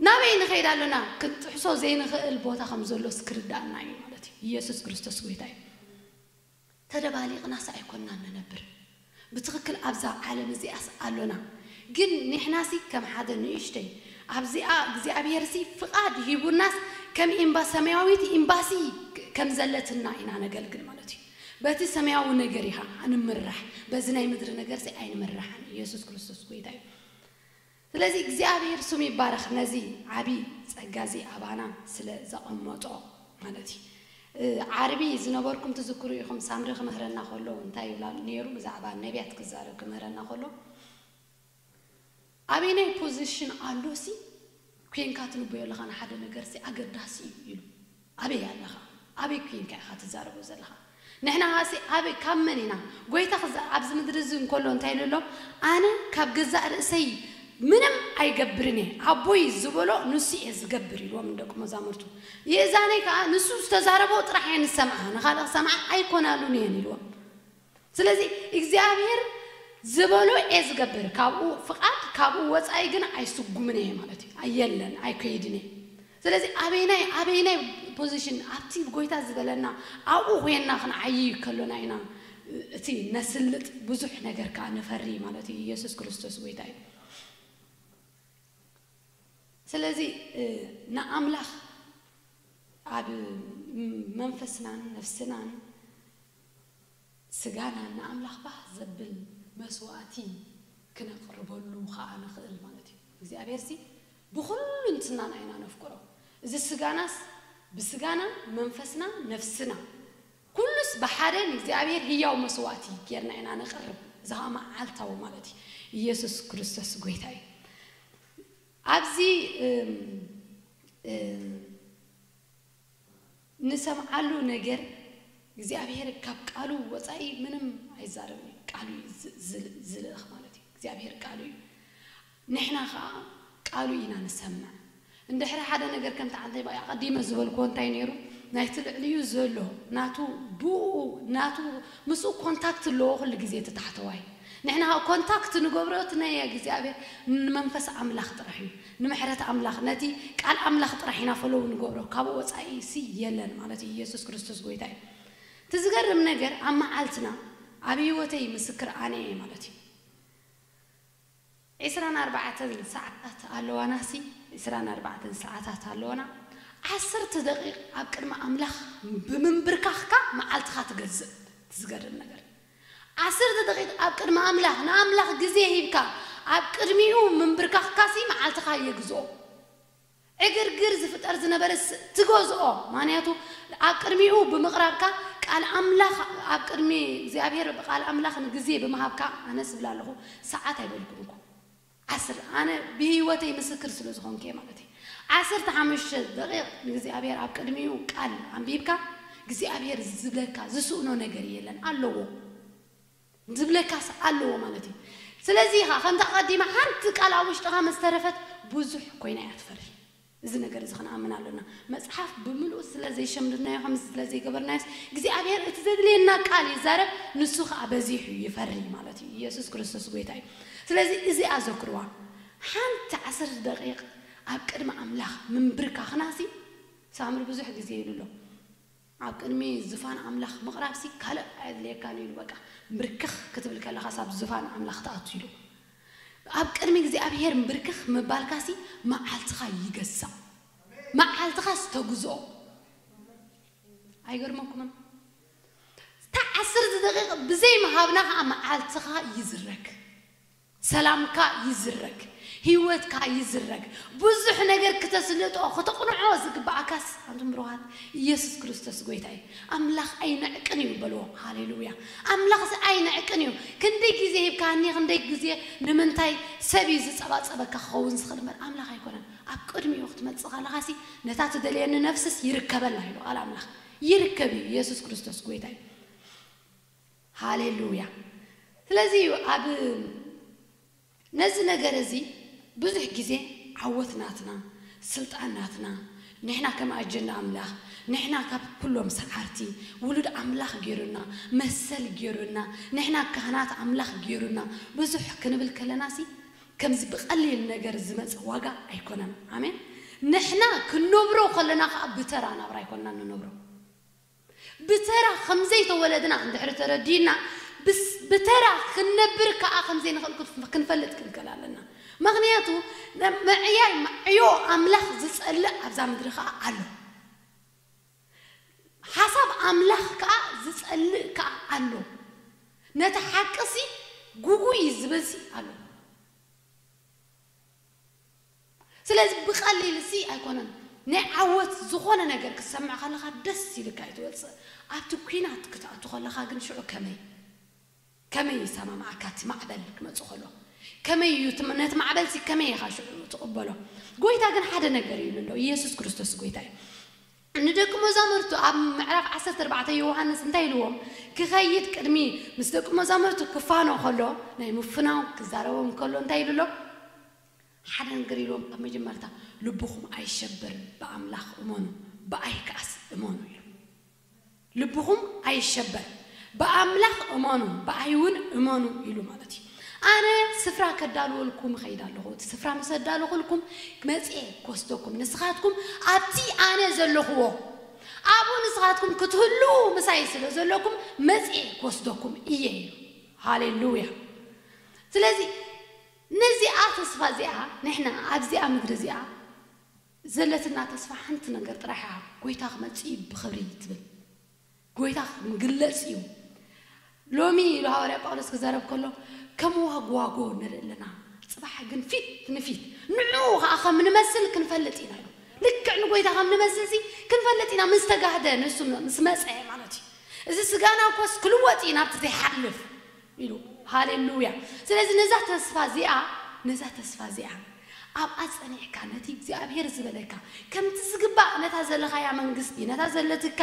ናበይ ንኸይድ ኣሎና? ክንጥሕሶ ዘይንኽእል ቦታ ከም ዘሎስ ክርድኣና እዩ ማለት እዩ። ኢየሱስ ክርስቶስ ጐይታ እዩ። ተደባሊቕናስ ኣይኮንናን ንነብር። ብትኽክል ኣብዛ ዓለም እዚኣስ ኣሎና። ግን ንሕናሲ ከም ሓደ ንእሽቶይ ኣብዚኣ እግዚኣብሔርሲ ፍቓድ ሂቡናስ ከም ኤምባ ሰማያዊት ኤምባሲ ከም ዘለትና ኢና ነገልግል ማለት እዩ። በቲ ሰማያዊ ነገር ኢኻ እንምራሕ። በዚ ናይ ምድሪ ነገርሲ ኣይንምራሕን። ኢየሱስ ክርስቶስ ጐይታ እዩ። ስለዚ እግዚኣብሄር ስሙ ይባረኽ ነዚ ዓቢ ጸጋ እዚ ኣባና ስለ ዘቐመጦ ማለት እዩ። ዓርቢ ዝነበርኩም ትዝክሩ ኢኹም ሳምሪ ክምህረና ከሎ እንታይ ይብላ ኔሩ ብዛዕባ ነብያት ክዛረብ ክምህረና ከሎ ኣበየናይ ፖዘሽን ኣሎሲ ኮንካ ትንበዮ ኣለኻ ንሓደ ነገርሲ ኣገዳሲ እዩ ኢሉ። ኣበይ ኣለኻ ኣበይ ኩንካ ኢኻ ትዛረቦ ዘለኻ ንሕና ኻሲ ኣበይ ካብ መን ኢና ጎይታ ኽዛእ ኣብዚ ምድሪ እዚ እንኮሎ እንታይ ኢሉ ኣሎ ኣነ ካብ ገዛእ ርእሰይ ምንም ኣይገብርን እየ ኣቦይ ዝበሎ ንሱ እየ ዝገብር ኢልዎም ንደቁ መዛሙርቱ የእዛነይ ከኣ ንሱ ዝተዛረቦ ጥራሕ እየን ዝሰምዓ ንኻልእ ክሰምዓ ኣይኮናሉን እየን ኢልዎም ስለዚ እግዚኣብሄር ዝበሎ እየ ዝገብር ካብኡ ፍቃድ ካብኡ ወጻኢ ግን ኣይስጉምን እየ ማለት እዩ ኣየለን ኣይከይድን እየ ስለዚ ኣበይናይ ኣበይናይ ፖዚሽን ኣብቲ ጎይታ ዝበለና ኣብኡ ኮይንና ክንዓይይ ከሎና ኢና እቲ ነስልጥ ብዙሕ ነገር ከኣ ንፈሪ ማለት እዩ ኢየሱስ ክርስቶስ ጎይታ እዩ ስለዚ ንኣምላኽ ኣብ መንፈስናን ነፍስናን ስጋና ንኣምላኽ ባህ ዘብል መስዋእቲ ክነቕርበሉ ኸኣ ንኽእል ማለት እዩ። እግዚኣብሄርሲ ብኹሉንትናና ኢና ነፍቅሮ። እዚ ስጋናስ ብስጋና፣ መንፈስና፣ ነፍስና ኩሉስ ብሓደ ንእግዚኣብሄር ህያው መስዋእቲ ጌርና ኢና ነቕርብ። እዚ ኸኣ መዓልታዊ ማለት እዩ። ኢየሱስ ክርስቶስ ጐይታ እዩ። ኣብዚ ንሰምዓሉ ነገር እግዚኣብሄር ካብ ቃሉ ወጻኢ ምንም ኣይዛረብን እዩ ቃሉ እዩ ዝልእኽ ማለት እዩ እግዚኣብሄር ቃሉ እዩ ንሕና ከኣ ቃሉ ኢና ንሰምዕ እንድሕሪ ሓደ ነገር ከምቲ ዓንተይ ባይ ኣቀዲመ ዝበልክዎ እንታይ ነይሩ ናይቲ ልዕሊኡ ዘሎ ናቱ ብእኡ ናቱ ምስኡ ኮንታክት ኣለዎ ኩሉ ግዜ እቲ ታሕተዋይ ንሕና ከኣ ኮንታክት ንገብሮ እቲ ናይ እግዚኣብሄር ንመንፈስ ኣምላኽ ጥራሕ እዩ ንምሕረት ኣምላኽ ነቲ ቃል ኣምላኽ ጥራሕ ኢና ፎሎው ንገብሮ ካብኡ ወጻኢ ሲ የለን ማለት እዩ ኢየሱስ ክርስቶስ ጎይታ እዩ እቲ ዝገርም ነገር ኣብ መዓልትና ኣብ ሂወተይ ምስክር ኣነ እየ ማለት እዩ ዕስራን ኣርባዕተን ሰዓታት ኣለዋና ሲ ዕስራን ኣርባዕተን ሰዓታት ኣለዋና ዓሰርተ ደቂቅ ኣብ ቅድሚ ኣምላኽ ብምንብርካኽካ መዓልትኻ ትገዝእ እቲ ዝገርም ነገር ዓሰርተ ደቒቕ ኣብ ቅድሚ ኣምላኽ ንኣምላኽ ግዜ ሂብካ ኣብ ቅድሚኡ ምንብርካኽካሲ መዓልትኻ የግዝኦ። ዕግርግር ዝፍጠር ዝነበረ ትገዝኦ ማንያቱ ኣብ ቅድሚኡ ብምቕራብካ ቃል ኣምላኽ ኣብ ቅድሚ እግዚኣብሄር ቃል ኣምላኽ ንግዜ ብምሃብካ ኣነስ እብላ ኣለኹ ሰዓት ኣይበልኩን እኮ። ዓስር ኣነ ብህይወተይ ምስክር ስለ ዝኾንኩ እየ ማለት እየ ዓሰርተ ሓሙሽተ ደቂቅ ንእግዚኣብሔር ኣብ ቅድሚኡ ቃል ኣንቢብካ እግዚኣብሔር ዝብለካ ዝስእኖ ነገር የለን ኣለዎ ዝብለካስ ኣለዎ ማለት እዩ ስለዚ ኢኻ ከምታ ቀዲመ ሓንቲ ቃል ኣብ ውሽጥኻ ምስ ተረፈት ብዙሕ ኮይና እያ ትፈሪ እዚ ነገር እዚ ክንኣምን ኣሎና። መጽሓፍ ብምልኡ ስለ ዘይሸምድድናዮ፣ ከምዚ ስለ ዘይገበርናዮስ፣ እግዚኣብሄር እቲ ዘድልየና ቃል ይዛረብ፣ ንሱ ኸኣ በዚሑ ይፈሪ ማለት እዩ። ኢየሱስ ክርስቶስ ጐይታ እዩ። ስለዚ እዚኣ ኣዘክርዋ፣ ሓንቲ ዓሰርተ ደቒቕ ኣብ ቅድሚ ኣምላኽ ምንብርካኽናሲ፣ ሳምሪ ብዙሕ ግዜ ኢሉ ኣሎ። ኣብ ቅድሚ ዝፋን ኣምላኽ ምቕራብሲ ካልእ ኣየድልየካን እዩ ኢሉ በቃ ምብርክኽ ክትብል ከለኻስ ኣብ ዝፋን ኣምላኽ ትኣቱ ዶ ኣብ ቅድሚ እግዚኣብሄር ምብርክኽ ምባልካሲ መዓልትኻ ይገዝእ መዓልትኻስ ተግዝኦ ኣይገርመኩምን እታ ዓሰርተ ደቒቕ ብዘይ ምሃብና ከኣ መዓልትኻ ይዝረግ። ሰላምካ ይዝረግ ሂወትካ ይዝረግ ብዙሕ ነገር ክተስልጦ ክተቕንዖ ዝግብኣካስ ኣንቱም ብሩኻት ኢየሱስ ክርስቶስ ጎይታ እዩ ኣምላኽ ኣይንዕቅን እዩ በልዎ ሃሌሉያ ኣምላኽሲ ኣይንዕቅን እዩ ክንደይ ግዜ ሂብካኒ ክንደይ ግዜ ንምንታይ ሰብ እዩ ዝጸባጸበካ ክኸውን ዝኽእል እምበር ኣምላኽ ኣይኮነን ኣብ ቅድሚኡ ክትመጽእ ከለኻሲ ነታ ትደልየኒ ነፍስስ ይርከበላ ኢሉ ቃል ኣምላኽ ይርከብ እዩ ኢየሱስ ክርስቶስ ጎይታ እዩ። ሃሌሉያ ስለዚ እዩ ኣብ ነዚ ነገር እዚ ብዙሕ ግዜ ዓወት ናትና ስልጣን ናትና ንሕና ከም ኣጀንዳ ኣምላኽ ንሕና ካብ ኩሎም ሰዓርቲ ውሉድ ኣምላኽ ጌሩና መሰል ጌሩና ንሕና ካህናት ኣምላኽ ጌሩና ብዙሕ ክንብል ከለናሲ ከምዚ ብቀሊል ነገር ዝመጸ ዋጋ ኣይኮነን ኣሜን ንሕና ክንነብሮ ከለና ከኣ ብተራ ናብራ ኣይኮናን ንነብሮ ብተራ ከም ዘይተወለድና እንድሕሪ ተረዲእና፣ ብተራ ክንነብር ከኣ ከም ዘይንኽእል ክንፈልጥ ክንክእል ኣለና። ምኽንያቱ ምዕያይ ዕዮ ኣምላኽ ዝጸልእ ኣብዛ ምድሪ ከኣ ኣሎ። ሓሳብ ኣምላኽ ከኣ ዝጸልእ ከኣ ኣሎ። ነቲ ሓቂ'ሲ ግጉይ እዩ ዝብል'ሲ ኣሎ። ስለዚ ብቀሊል እዚ ኣይኮነን ናይ ዓወት ዝኾነ ነገር ክትሰምዕ ከለኻ ደስ ኢልካ እዩ ትወጽእ ኣብቲ ኩናት ክትኣቱ ከለኻ ግን ሽዑ ከመይ ከመይ ይሰማምዓካ እቲ ማዕበል ክመጽእ ከሎ ከመይ እዩ እቲ ነቲ ማዕበልሲ ከመይ ኢኻ ሽዑ ትቅበሎ ጎይታ ግን ሓደ ነገር እዩ ንሎ ኢየሱስ ክርስቶስ ጎይታ እዩ ንደቂ መዛሙርቱ ኣብ ምዕራፍ ዓሰርተ ኣርባዕተ ዮውሃንስ እንታይ ኢልዎም ክኸይድ ቅድሚ ምስ ደቂ መዛሙርቱ ክፋኖ ከሎ ናይ ምፍናው ክዛረቦም ከሎ እንታይ ኢሉ ኣሎ ሓደ ነገር ኢልዎም ኣብ መጀመርታ ልብኹም ኣይሸበር ብኣምላኽ እመኑ ብኣይ ክኣስ እመኑ ኢሉ። ልብኹም ኣይሸበር፣ ብኣምላኽ እመኑ፣ ብኣይውን እመኑ ኢሉ ማለት እዩ። ኣነ ስፍራ ከዳልወልኩም እኸይድ ኣሎኹ፣ እቲ ስፍራ ምስ ኣዳሎኹልኩም፣ መጺኤ ክወስደኩም፣ ንስኻትኩም ኣብቲ ኣነ ዘሎኹዎ፣ ኣብኡ ንስኻትኩም ክትህልዉ ምሳይ ስለ ዘሎኩም፣ መጺኤ ክወስደኩም እየ ኢሉ። ሃሌ ሉያ! ስለዚ ነዚኣ ተስፋ እዚኣ ንሕና ኣብዚኣ ምድሪ እዚኣ ዘለትና ተስፋ ሓንቲ ነገር ጥራሕ እያ ጎይታ ክመጽእ እዩ ብክብሪ ትብል ጎይታ ክግለጽ እዩ ሎሚ ኢሉ ሃዋርያ ጳውሎስ ክዛረብ ከሎ ከም ዋግዋጎ ንርኢ ኣለና ጽባሕ ግን ፊት ንፊት ንዕኡ ከኣ ከም ንመስል ክንፈልጥ ኢና ኢሉ ልክዕ ንጎይታ ከም ንመስል ሲ ክንፈልጥ ኢና ምስ ተጋህደ ንሱ ምስ መጸ ማለት እዩ እዚ ስጋና እኮስ ክልወጥ እዩ ናብቲ ዘይሓልፍ ኢሉ። ሃሌሉያ! ስለዚ ነዛ ተስፋ እዚኣ፣ ነዛ ተስፋ እዚኣ፣ ኣብኣ ጸኒዕካ ነቲ እግዚኣብሄር ዝበለካ፣ ከምቲ ዝግባእ ነታ ዘለኻያ መንግስቲ፣ ነታ ዘለትካ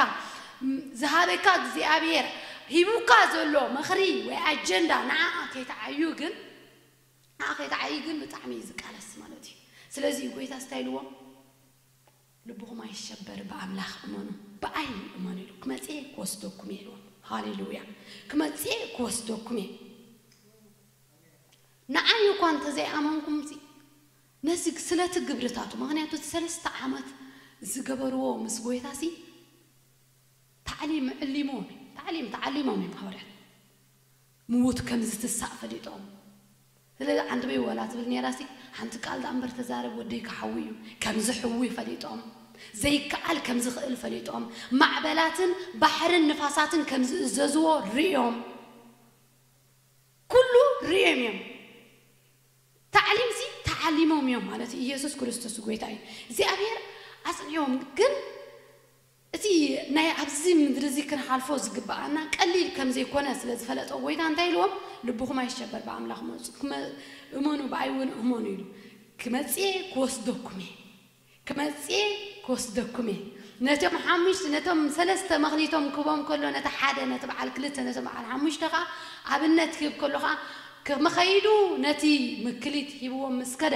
ዝሃበካ እግዚኣብሄር ሂቡካ ዘሎ ምኽሪ ወይ ኣጀንዳ ንዓኣ ከይትዓዩ ግን፣ ንዓኣ ከይትዓዪ ግን ብጣዕሚ እዩ ዝቃለስ ማለት እዩ። ስለዚ እዩ ጎይታስ እንታይ ኢልዎም? ልብኹም ኣይሸበር ብኣምላኽ እመኑ ብኣይ እመኑ ኢሉ ክመጽእ እየ ክወስደኩም እየ ኢልዎም ሃሌሉያ ክመጽእ እየ ክወስደኩም እየ ንዓይ እኳ እንተ ዘይኣመንኩምሲ ነዚ ስለቲ ግብርታቱ ምኽንያቱ እቲ ሰለስተ ዓመት ዝገበርዎ ምስ ጎይታሲ ታዕሊም ዕሊሞም ታዕሊም ተዓሊሞም እዮም ሃዋርያት ምዉት ከም ዝትሳእ ፈሊጦም ስለዚ ዓንድበይ ዋላ ትብል ኔራሲ ሓንቲ ቃል ደኣ እምበር ተዛረብ ወደይ ክሓዊ እዩ ከም ዝሕዊ ፈሊጦም ዘይከኣል ከም ዝኽእል ፈሊጦም ማዕበላትን ባሕርን ንፋሳትን ከም ዝእዘዝዎ ርእዮም ኩሉ ርእዮም እዮም ታዕሊምሲ ተዓሊሞም እዮም ማለት ኢየሱስ ክርስቶስ ጎይታ እዩ እግዚኣብሔር ኣጽኒዕዎም ግን እቲ ናይ ኣብዚ ምድሪ እዚ ክንሓልፎ ዝግብኣና ቀሊል ከም ዘይኰነ ስለ ዝፈለጠ ጐይታ እንታይ ኢልዎም? ልብኹም ኣይሸበር ብኣምላኽ እመጹ ክመ እመኑ ብኣይ እውን እመኑ ኢሉ ክመጽእ እየ ክወስደኩም እየ ክመጽእ እየ ክወስደኩም እየ ነቶም ሓሙሽተ ነቶም ሰለስተ መክሊቶም ክህቦም ከሎ ነቲ ሓደ ነቲ በዓል ክልተ ነቶም በዓል ሓሙሽተ ከኣ ኣብነት ክህብ ከሎ ከኣ ክመ ኸይዱ ነቲ ምክሊት ሂብዎም ምስ ከደ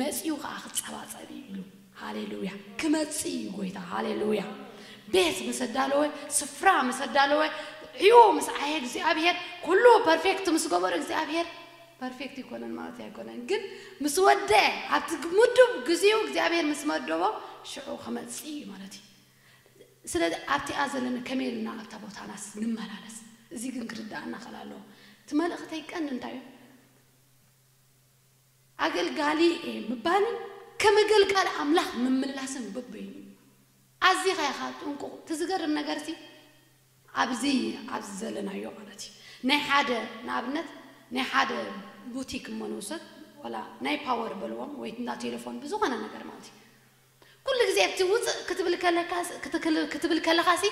መጺኡ ከኣ ክጸባጸብ እዩ ኢሉ ሃሌሉያ ክመጽእ እዩ ጎይታ ሃሌሉያ ቤት ምስ ኣዳለወ ስፍራ ምስ ኣዳለወ ዕዮ ምስ ዓየ እግዚኣብሔር ኩሉ ፐርፌክት ምስ ገበሮ እግዚኣብሔር ፐርፌክት ይኮነን ማለት ኣይኮነን ግን ምስ ወደ ኣብቲ ምዱብ ግዚኡ እግዚኣብሔር ምስ መደቦ ሽዑ ክመጽእ እዩ ማለት እዩ ስለዚ ኣብቲኣ ዘለና ከመይ ኢልና ኣብታ ቦታናስ ንመላለስ እዚ ግን ክርድኣና ክእል ኣለዎ እቲ መልእኽተይ ቀንዲ እንታይ እዩ ኣገልጋሊ እየ ምባልን ከም እገልጋሊ ኣምላኽ ምምላስን በበይኑ እዩ። ኣዚኻ ኢኻ ጥንቁቕ። እቲ ዝገርም ነገርሲ ኣብዚ ኣብዚ ዘለናዮ ማለት እዩ ናይ ሓደ ንኣብነት ናይ ሓደ ቡቲክ እሞ ንውሰድ ዋላ ናይ ፓወር በልዎም ወይ እንዳ ቴለፎን ብዝኾነ ነገር ማለት እዩ ኩሉ ግዜ እቲ ውጽእ ክትብል ከለካስ ክትክል ክትብል ከለኻሲ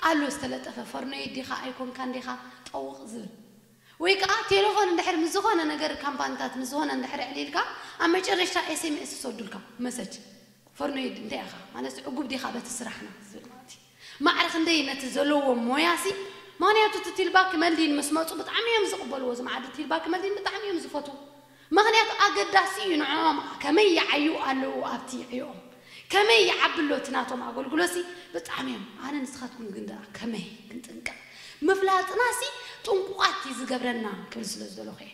ኣሎ ዝተለጠፈ ፈርኖይድ ዲኻ ኣይኮንካን ዲኻ ጠውቕ ዝብል ወይ ከኣ ቴለፎን እንድሕር ምስ ዝኾነ ነገር ካምፓንታት ምስ ዝኾነ እንድሕር ኣዕሊልካ ኣብ መጨረሽታ ኤሴሜኤስ ዝሰዱልካ መሰጅ ፈርኖይድ እንታይ ኢኻ ማለትስ ዕጉብ ዲኻ በቲ ስራሕና ዝብል ማለት እዩ። ማዕረ ክንደይ ነቲ ዘሎዎም ሞያሲ ምክንያቱ እቲ ቲልባ ክመልዲን ምስ መጹ ብጣዕሚ እዮም ዝቅበልዎ እዞም ዓዲ ቲልባ ክመልዲን ብጣዕሚ እዮም ዝፈትዉ ምክንያቱ ኣገዳሲ እዩ ንዕኦም ከመይ ይዓዩ ኣለዉ ኣብቲ ዕዮኦም ከመይ ይዓቢ ኣሎ እቲ ናቶም ኣገልግሎሲ ብጣዕሚ እዮም ኣነ ንስካትኩም ግን ድኣ ከመይ ክንጥንቀቅ ምፍላጥናሲ ጥንቁቃት ዝገብረና ክብል ስለ ዝደለኩ እየ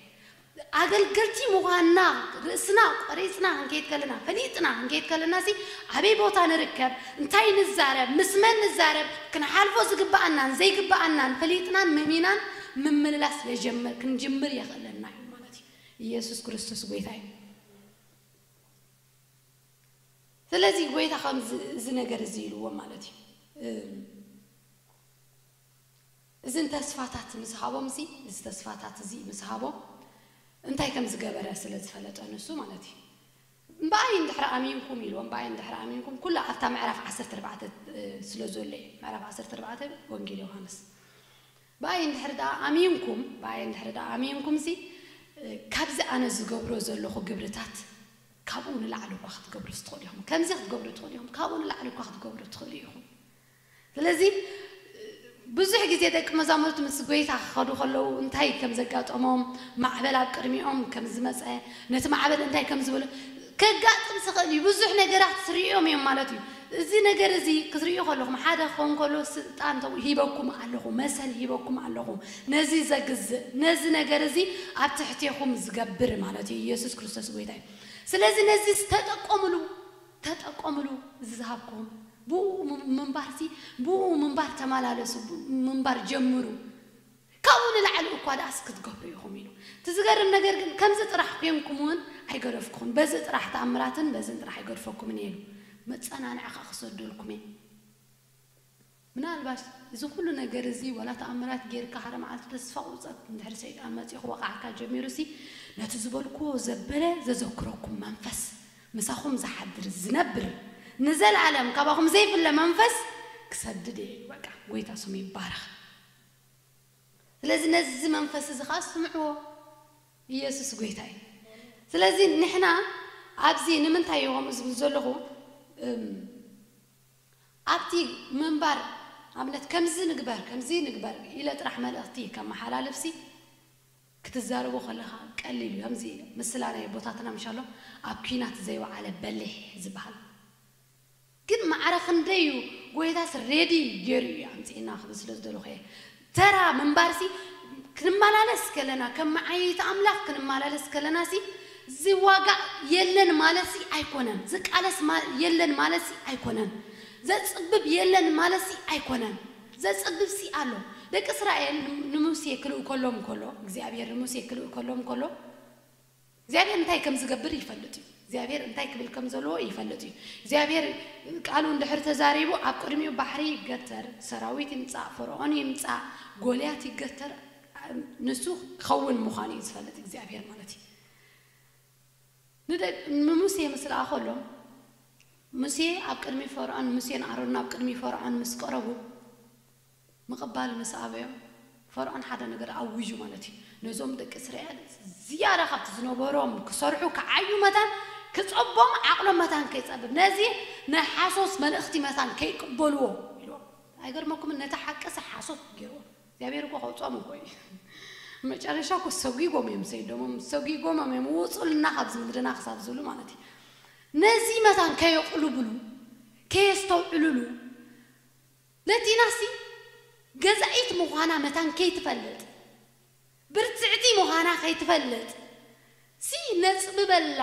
ኣገልገልቲ ምዃንና ርእስና ቆሪጽና ክንከይድ ከለና፣ ፈሊጥና ክንከይድ ከለና'ሲ ኣበይ ቦታ ንርከብ፣ እንታይ ንዛረብ፣ ምስ መን ንዛረብ፣ ክንሓልፎ ዝግብኣናን ዘይግብኣናን ፈሊጥናን መሚናን ምምልላስ ክንጀምር ክንጅምር የኽእለና እዩ ማለት እዩ። ኢየሱስ ክርስቶስ ጎይታ እዩ። ስለዚ ጎይታ ከምዚ እዚ ነገር እዚ ኢልዎም ማለት እዩ። እዝን ተስፋታት ምስ ሃቦም እዚ እዚ ተስፋታት እዚ ምስ ሃቦም እንታይ ከም ዝገበረ ስለ ዝፈለጠ ንሱ ማለት እዩ እምበኣይ እንድሕር ኣሚንኩም ኢልዎ እምበኣይ እንድሕር ኣሚንኩም ኩሉ ኣብታ ምዕራፍ ዓሰርተ ኣርባዕተ ስለ ዘሎ እዩ ምዕራፍ ዓሰርተ ኣርባዕተ ወንጌል ዮሃንስ ብኣይ እንድሕር ደኣ ኣሚንኩም ብኣይ እንድሕር ደኣ ኣሚንኩምሲ ካብዚ ኣነ ዝገብሮ ዘለኹ ግብርታት ካብኡ ንላዕሊ እኳ ክትገብሩ ትኽእሉ ኢኹም ከምዚ ክትገብሩ ትኽእሉ ኢኹም ካብኡ ንላዕሊ እኳ ክትገብሩ ትኽእሉ ኢኹም ስለዚ ብዙሕ ግዜ ደቂ መዛሙርቲ ምስ ጐይታ ክኸዱ ከለዉ እንታይ ከም ዘጋጠሞም፣ ማዕበል ኣብ ቅድሚኦም ከም ዝመጸ፣ ነቲ ማዕበል እንታይ ከም ዝበሎ፣ ከጋጥም ዝኽእል እዩ። ብዙሕ ነገራት ርእዮም እዮም ማለት እዩ። እዚ ነገር እዚ ክትርእዩ ከለኹም ሓደ ክኸውን ከሎ ስልጣን ተው ሂበኩም ኣለኹ፣ መሰል ሂበኩም ኣለኹ፣ ነዚ ዘግዝእ፣ ነዚ ነገር እዚ ኣብ ትሕቴኹም ዝገብር ማለት እዩ። ኢየሱስ ክርስቶስ ጐይታ እዩ። ስለዚ ነዚ ተጠቀምሉ፣ ተጠቀምሉ እዚ ዝሃብኩም። ብእኡ ምንባርሲ ብእኡ ምንባር ተማላለሱ ምንባር ጀምሩ ካብኡ ንላዕሊ እኳ ድኣስ ክትገብሩ ኢኹም ኢሉ እቲ ዝገርም ነገር ግን ከምዚ ጥራሕ ኮንኩም እውን ኣይገደፍኩኹን በዚ ጥራሕ ተኣምራትን በዝን ጥራሕ ኣይገድፈኩምን እየ ኢሉ መጸናንዒ ከኣ ክሰደልኩም እየ ምናልባሽ እዚ ኩሉ ነገር እዚ ዋላ ተኣምራት ጌርካ ሓደ መዓልቲ ተስፋ ቁርጸት እንድሕር ሰይጣን መጺኡ ክወቕዓካ ጀሚሩሲ ነቲ ዝበልክዎ ዘበለ ዘዘክረኩም መንፈስ ምሳኹም ዝሓድር ዝነብር ንዘልኣለም ካባኹም ዘይፍለ መንፈስ ክሰድድ እየ ኢሉ በቃ ጎይታ ስሙ ይባረኽ ስለዚ ነዚ መንፈስ እዚ ከኣ ስምዕዎ ኢየሱስ ጎይታ እዩ ስለዚ ንሕና ኣብዚ ንምንታይ እየ ከምኡ ዝብል ዘለኹ እም ኣብቲ ምንባር ኣብነት ከምዚ ንግበር ከምዚ ንግበር ኢለ ጥራሕ መልእኽቲ ከመሓላልፍሲ ክትዛረቦ ከለኻ ቀሊል እዩ ኣምዚ ምስላ ናይ ኣቦታትና ምሻሎ ኣብ ኩናት ዘይወዓለ በሊሕ ዝብሃል ግን ማዕረ ክንደይ እዩ ጎይታስ ሬዲ ጌሩ እዩ ኣምጺኡና ክብል ስለ ዝደለኹ እየ ተራ ምንባርሲ ክንመላለስ ከለና ከም መዓይይቲ ኣምላኽ ክንመላለስ ከለናሲ ዝዋጋእ የለን ማለትሲ ኣይኮነን ዝቃለስ የለን ማለትሲ ኣይኮነን ዘጽብብ የለን ማለትሲ ኣይኮነን ዘጸብብሲ ኣሎ። ደቂ እስራኤል ን ንሙሴ ክልእኮሎም ከሎ እግዚኣብሄር ንሙሴ ክልእኮሎም ከሎ እግዚኣብሄር እንታይ ከም ዝገብር ይፈልጥ እዩ። እግዚኣብሄር እንታይ ክብል ከም ዘለዎ ይፈልጥ እዩ። እግዚኣብሄር ቃሉ እንድሕር ተዛሪቡ ኣብ ቅድሚኡ ባሕሪ ይገተር፣ ሰራዊት ይምጻእ፣ ፈርዖን ይምጻእ፣ ጎልያት ይገተር ንሱ ክኸውን ምዃኑ እዩ ዝፈልጥ እግዚኣብሄር ማለት እዩ። ንሙሴ ምስ ለኣኸሎም፣ ሙሴ ኣብ ቅድሚ ፈርዖን ሙሴን ኣሮንን ኣብ ቅድሚ ፈርዖን ምስ ቀረቡ፣ ምቕባል ምስ ኣበዮም፣ ፈርዖን ሓደ ነገር ኣዊጁ ማለት እዩ፣ ነዞም ደቂ እስራኤል ዝያዳ ካብቲ ዝነበሮም ክሰርሑ ክዓዩ መታን ክጸቦም ዓቕሎም መታን ከይጸብብ ነዚ ናይ ሓሶት መልእኽቲ መታን ከይቅበልዎ ኢልዎም። ኣይገርመኩምን ነቲ ሓቅሲ ሓሶት ገይርዎ። እግዚኣብሔር እኮ ከውጾም እኮ እዩ መጨረሻ እኮ ሰጒጎም እዮም ሰይዶሞም ሰጒጎሞም እዮም ውጹልና ካብዚ ምድርና ክሳብ ዝብሉ ማለት እዩ ነዚ መታን ከየቕልብሉ ከየስተውዕልሉ ለቲናሲ ገዛኢት ምዃና መታን ከይትፈልጥ ብርትዕቲ ምዃና ከይትፈልጥ ሲ ነጽብበላ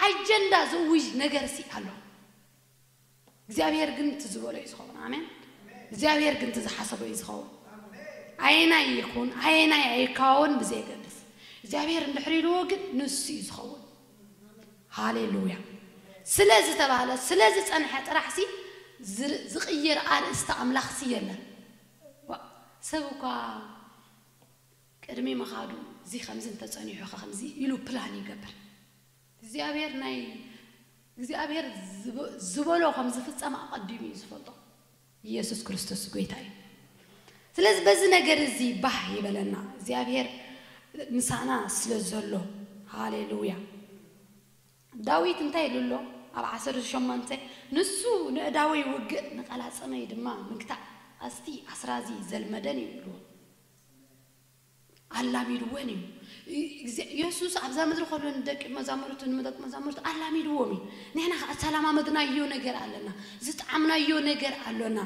ኣጀንዳ ዝእውጅ ነገርሲ ኣሎ። እግዚኣብሄር ግን እቲ ዝበሎ እዩ ዝኸውን ኣሜን እግዚኣብሄር ግን እቲ ዝሓሰቦ እዩ ዝኸውን ኣየናይ ይኹን ኣየናይ ኣይካወን ብዘየገድስ እግዚኣብሄር እንድሕር ኢልዎ ግን ንሱ እዩ ዝኸውን ሃሌሉያ ስለ ዝተባህለ ስለ ዝጸንሐ ጥራሕሲ ዝቕየር ኣርእስቲ ኣምላኽሲ የለን ዋእ ሰብ እኳ ቅድሚ ምኻዱ እዚ ከምዚ እንተጸኒሑኸ ከምዚ ኢሉ ፕላን ይገብር። እግዚኣብሄር ናይ እግዚኣብሄር ዝበሎ ከም ዝፍጸም ኣቀዲሙ እዩ ዝፈልጦ ኢየሱስ ክርስቶስ ጎይታ እዩ ስለዚ በዚ ነገር እዚ ባህ ይበለና እግዚኣብሄር ምሳና ስለ ዘሎ ሃሌሉያ ዳዊት እንታይ ኢሉ ኣሎ ኣብ ዓሰርተ ሸሞንተ ንሱ ንእዳወይ ውግእ ንቀላጽመይ ድማ ምግታእ ኣዝቲ ኣስራዚ ዘልመደን እዩ ኢልዎ። ኣላሚድወን እዩ። እግዚ የሱስ ኣብዛ ምድሪ ከሎ ንደቂ መዛሙርቱ ንደቂ መዛሙርቱ ኣላሚድዎም እዩ። ንሕና ከኣ ዝተላማመድናዮ ነገር ኣለና። ዝጠዓምናዮ ነገር ኣሎና።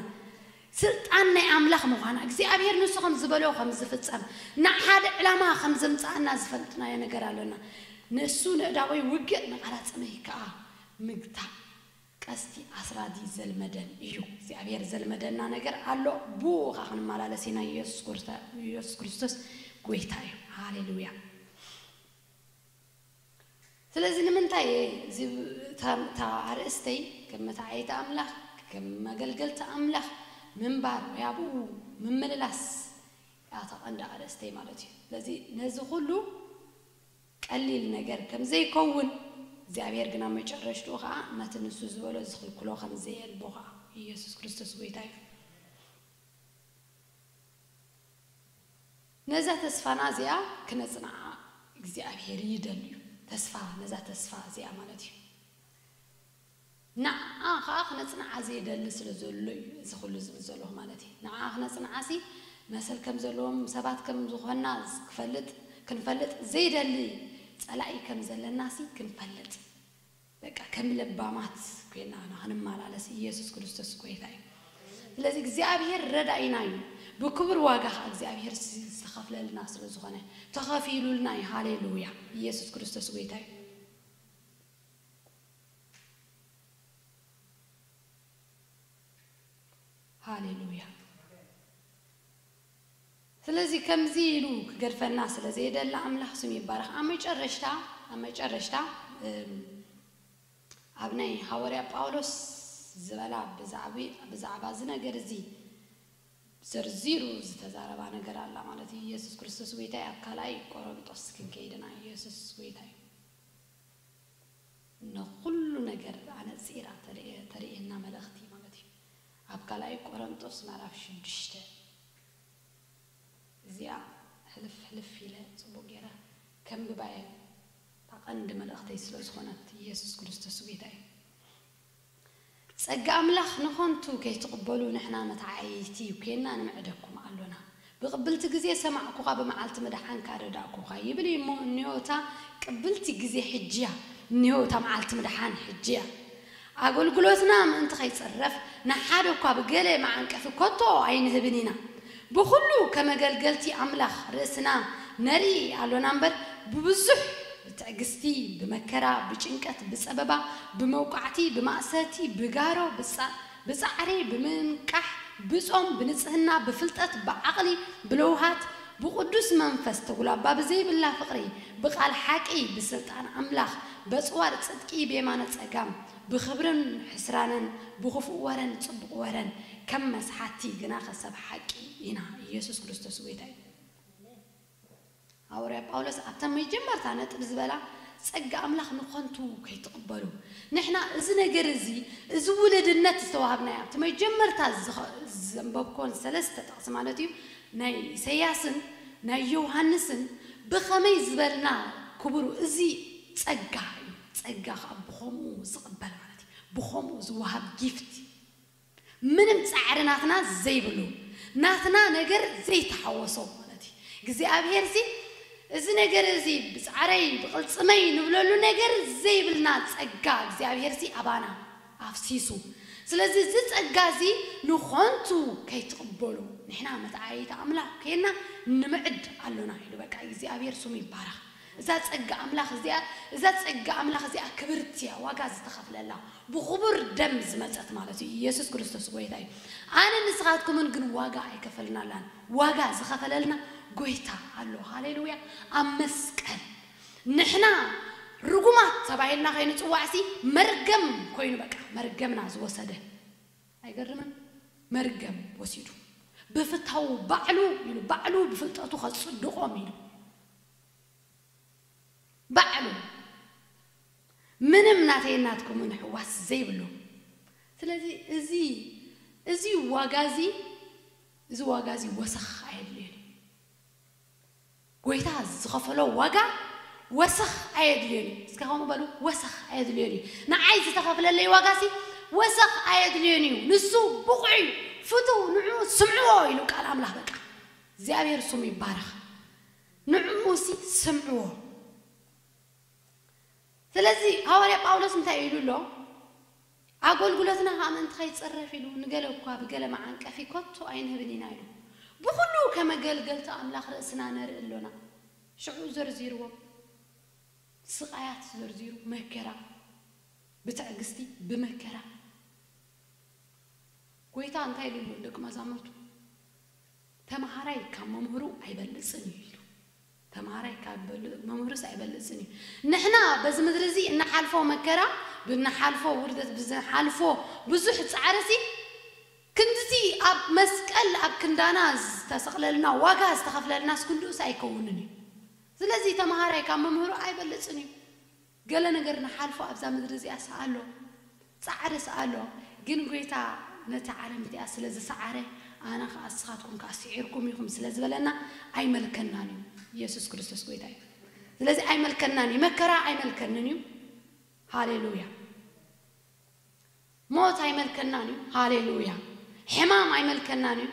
ስልጣን ናይ ኣምላኽ ምዃና፣ እግዚኣብሄር ንሱ ከም ዝበሎ ከም ዝፍጸም፣ ንሓደ ዕላማ ከም ዘምጽኣና ዝፈለጥናዮ ነገር ኣሎና። ንሱ ንእዳወይ ውግእ ንቓላጽመይ ከኣ ምግታእ። ቀስቲ ኣስራዚ ዘልመደን እዩ እግዚኣብሔር ዘልመደና ነገር ኣሎ ብኡ ከኣ ክንማላለስ ኢና ኢየሱስ ክርስቶስ ጎይታ እዩ ሃሌሉያ ስለዚ ንምንታይ እየ እዚ እታ ኣርእስተይ ከም መታዓይቲ ኣምላኽ ከም መገልገልቲ ኣምላኽ ምንባር ወይ ኣብኡ ምምልላስ እያ እታ ቀንዲ ኣርእስተይ ማለት እዩ ስለዚ ነዚ ኩሉ ቀሊል ነገር ከም ዘይከውን፣ እግዚኣብሄር ግን ኣብ መጨረሽትኡ ከኣ ነቲ ንሱ ዝበሎ ዝኽልክሎ ከም ዘየልቦ ከኣ። ኢየሱስ ክርስቶስ ጐይታ እዩ። ነዛ ተስፋና እዚኣ ክነጽንዓ እግዚኣብሄር ይደሊ እዩ። ተስፋ ነዛ ተስፋ እዚኣ ማለት እዩ። ንዓኣ ከኣ ክነጽንዓ ዘይደሊ ስለ ዘሎ እዩ እዚ ኩሉ ዝብል ዘለኹ ማለት እየ ንዓኣ ክነጽንዓሲ መሰል ከም ዘለዎም ሰባት ከም ዝኾንና ክፈልጥ ክንፈልጥ ዘይደሊ ጸላኢ ከም ዘለናሲ ክንፈልጥ በቃ ከም ለባማት ኮይና ኢና ክንመላለስ ኢየሱስ ክርስቶስ ጎይታ እዩ ስለዚ እግዚኣብሔር ረዳኢና እዩ ብክቡር ዋጋ ከኣ እግዚኣብሔር ዝተኸፍለልና ስለ ዝኾነ ተኸፊሉልና እዩ ሃሌሉያ ኢየሱስ ክርስቶስ ጎይታ እዩ። ሃሌሉያ ስለዚ ከምዚ ኢሉ ክገድፈና ስለ ዘይደለ ኣምላኽ ስም ይባረኽ ኣብ መጨረሽታ ኣብ መጨረሽታ ኣብ ናይ ሃወርያ ጳውሎስ ዝበላ ብዛዕባ እዚ ነገር እዚ ዘርዚሩ ዝተዛረባ ነገር ኣላ ማለት እዩ ኢየሱስ ክርስቶስ ጎይታ እዩ ኣብ ካልኣይ ቆሮንጦስ ክንከይድና ኢየሱስ ጎይታ እዩ ንኹሉ ነገር ኣነጺራ ተርእየና መልእኽቲ ማለት እዩ። ኣብ ካልኣይ ቆረንጦስ ምዕራፍ ሽዱሽተ እዚኣ ሕልፍ ሕልፍ ኢለ ጽቡቕ ጌረ ከንብባ እየ እታ ቀንዲ መልእኽተይ ስለ ዝኾነት ኢየሱስ ክርስቶስ ጎይታ እዩ። ጸጋ ኣምላኽ ንኸንቱ ከይትቕበሉ ንሕና መተዓይይቲ ኴንና ንምዕደኩም ኣሎና። ብቕብልቲ ግዜ ሰማዕኩኻ ብመዓልቲ ምድሓንካ ረዳእኩኻ ይብል እዩ እሞ እንዮ እታ ቅብልቲ ግዜ ሕጂ እያ እንዮ እታ መዓልቲ ምድሓን ሕጂ እያ። ኣገልግሎትና ምእንቲ ከይጽረፍ ንሓደ እኳ ብገለ መዓንቀፊ ከቶ ኣይንህብን ኢና። ብኹሉ ከም ኣገልገልቲ ኣምላኽ ርእስና ነርኢ ኣሎና እምበር፣ ብብዙሕ፣ ብትዕግስቲ፣ ብመከራ፣ ብጭንቀት፣ ብጸበባ፣ ብመውቃዕቲ፣ ብማእሰርቲ፣ ብጋሮ፣ ብጻዕሪ፣ ብምንቃሕ፣ ብጾም፣ ብንጽህና፣ ብፍልጠት፣ ብዓቕሊ፣ ብለውሃት፣ ብቕዱስ መንፈስ፣ ተጉላባ ብዘይብላ ፍቕሪ፣ ብቓል ሓቂ፣ ብስልጣን ኣምላኽ፣ በጽዋር ጽድቂ ብየማነ ጸጋም፣ ብኽብርን ሕስራንን፣ ብኽፉእ ወረን ጽቡቕ ወረን፣ ከም መስሓቲ ግናኸ ሰብ ሓቂ ኢና ኢየሱስ ክርስቶስ ጐይታ እዩ። ሃወርያ ጳውሎስ ኣብታ መጀመርታ ነጥብ ዝበላ ጸጋ ኣምላኽ ንኸንቱ ከይትቕበሉ ንሕና እዚ ነገር እዚ እዚ ውልድነት ዝተዋሃብናዮ ኣብቲ መጀመርታ ዘንበብክወን ሰለስተ ጥቕሲ ማለት እዩ ናይ ኢሰያስን ናይ ዮውሃንስን ብኸመይ ዝበልና ክቡሩ እዚ ጸጋ እዩ ጸጋ ከኣ ብኸምኡ ዝቕበል ማለት እዩ ብኸምኡ ዝወሃብ ጊፍት ምንም ጻዕሪ ናትና ዘይብሉ ናትና ነገር ዘይተሓወሶ ማለት እዩ እግዚኣብሔርሲ እዚ ነገር እዚ ብጻዕረይ ብቅልጽመይ ንብለሉ ነገር ዘይብልና ጸጋ እግዚኣብሔርሲ ኣባና ኣፍሲሱ ስለዚ እዚ ጸጋ እዚ ንኾንቱ ከይትቅበሉ ንሕና መትዓየይቲ ኣምላኽ ኴንና ንምዕድ ኣሎና ኢሉ በቃ እግዚኣብሔር ስሙ ይባረኽ እዛ ጸጋ ኣምላኽ እዚኣ እዛ ጸጋ ኣምላኽ እዚኣ ክብርቲ እያ ዋጋ ዝተኸፍለላ ብኽቡር ደም ዝመጸት ማለት እዩ ኢየሱስ ክርስቶስ ጎይታ እዩ ኣነን ንስኻትኩምን ግን ዋጋ ኣይከፈልናላን ዋጋ ዝኸፈለልና ጎይታ ኣሎ ሃሌሉያ ኣብ መስቀል ንሕና ርጉማት ተባሂልና ከይንጽዋዕሲ መርገም ኮይኑ በቃ መርገምና ዝወሰደ ኣይገርምን መርገም ወሲዱ ብፍታዉ ባዕሉ ኢሉ ባዕሉ ብፍልጠቱ ከጽድቆም ኢሉ ባዕሉ ምንም ናተይን ናትኩምን ሕዋስ ዘይብሉ ስለዚ እዚ እዚ ዋጋ እዚ እዚ ዋጋ እዚ ወሰኽ ኣየድልዮን እዩ ጎይታ ዝኸፈሎ ዋጋ ወሰኽ ኣየድልዮን እዩ እስከ ከምኡ በሉ ወሰኽ ኣየድልዮን እዩ ንዓይ ዝተኸፍለለይ ዋጋ እዚ ወሰኽ ኣየድልዮን እዩ ንሱ ብቑዕ እዩ ፍትው ንዑ ስምዕዎ ኢሉ ቃል ኣምላኽ በቃ እግዚኣብሔር ስሙ ይባረኽ ንዕኡሲ ስምዕዎ። ስለዚ ሃዋርያ ጳውሎስ እንታይ ኢሉ ኣሎ? ኣጎልጉሎትና ከኣ ምእንቲ ከይጽረፍ ኢሉ ንገለ እኳ ብገለ መዓንቀፊ ከቶ ኣይንህብን ኢና ኢሉ። ብኹሉ ከም ኣገልገልቲ ኣምላኽ ርእስና ነርኢ ኣሎና። ሽዑ ዘርዚርዎም ስቓያት ዘርዚሩ መከራ ብትዕግስቲ ብመከራ ጎይታ እንታይ ኢሉ ኣሎ ንደቂ መዛሙርቱ? ተምሃራይ ካብ መምህሩ ኣይበልጽን እዩ ኢሉ። ተምሃራይ ካብ መምህሩስ ኣይበልጽን እዩ። ንሕና በዚ ምድሪ እዚ እንሓልፎ መከራ፣ ብንሓልፎ ውርደት፣ ብዝንሓልፎ ብዙሕ ጻዕሪሲ፣ ክንድዚ ኣብ መስቀል ኣብ ክንዳና ዝተሰቕለልና፣ ዋጋ ዝተኸፍለልናስ ክንድኡስ ኣይከውንን እዩ። ስለዚ ተምሃራይ ካብ መምህሩ ኣይበልጽን እዩ። ገለ ነገር ንሓልፎ ኣብዛ ምድሪ እዚኣስ ኣሎ ጻዕርስ ኣሎ ግን ጎይታ ነቲ ዓለም እቲኣ ስለ ዝሰዓረ ኣነ ከኣ እስኻትኩም ከኣ ሲዒርኩም ኢኹም ስለ ዝበለና ኣይመልከናን እዩ ኢየሱስ ክርስቶስ ጎይታ እዩ ስለዚ ኣይመልከናን እዩ መከራ ኣይመልከንን እዩ ሃሌሉያ ሞት ኣይመልከናን እዩ ሃሌሉያ ሕማም ኣይመልከናን እዩ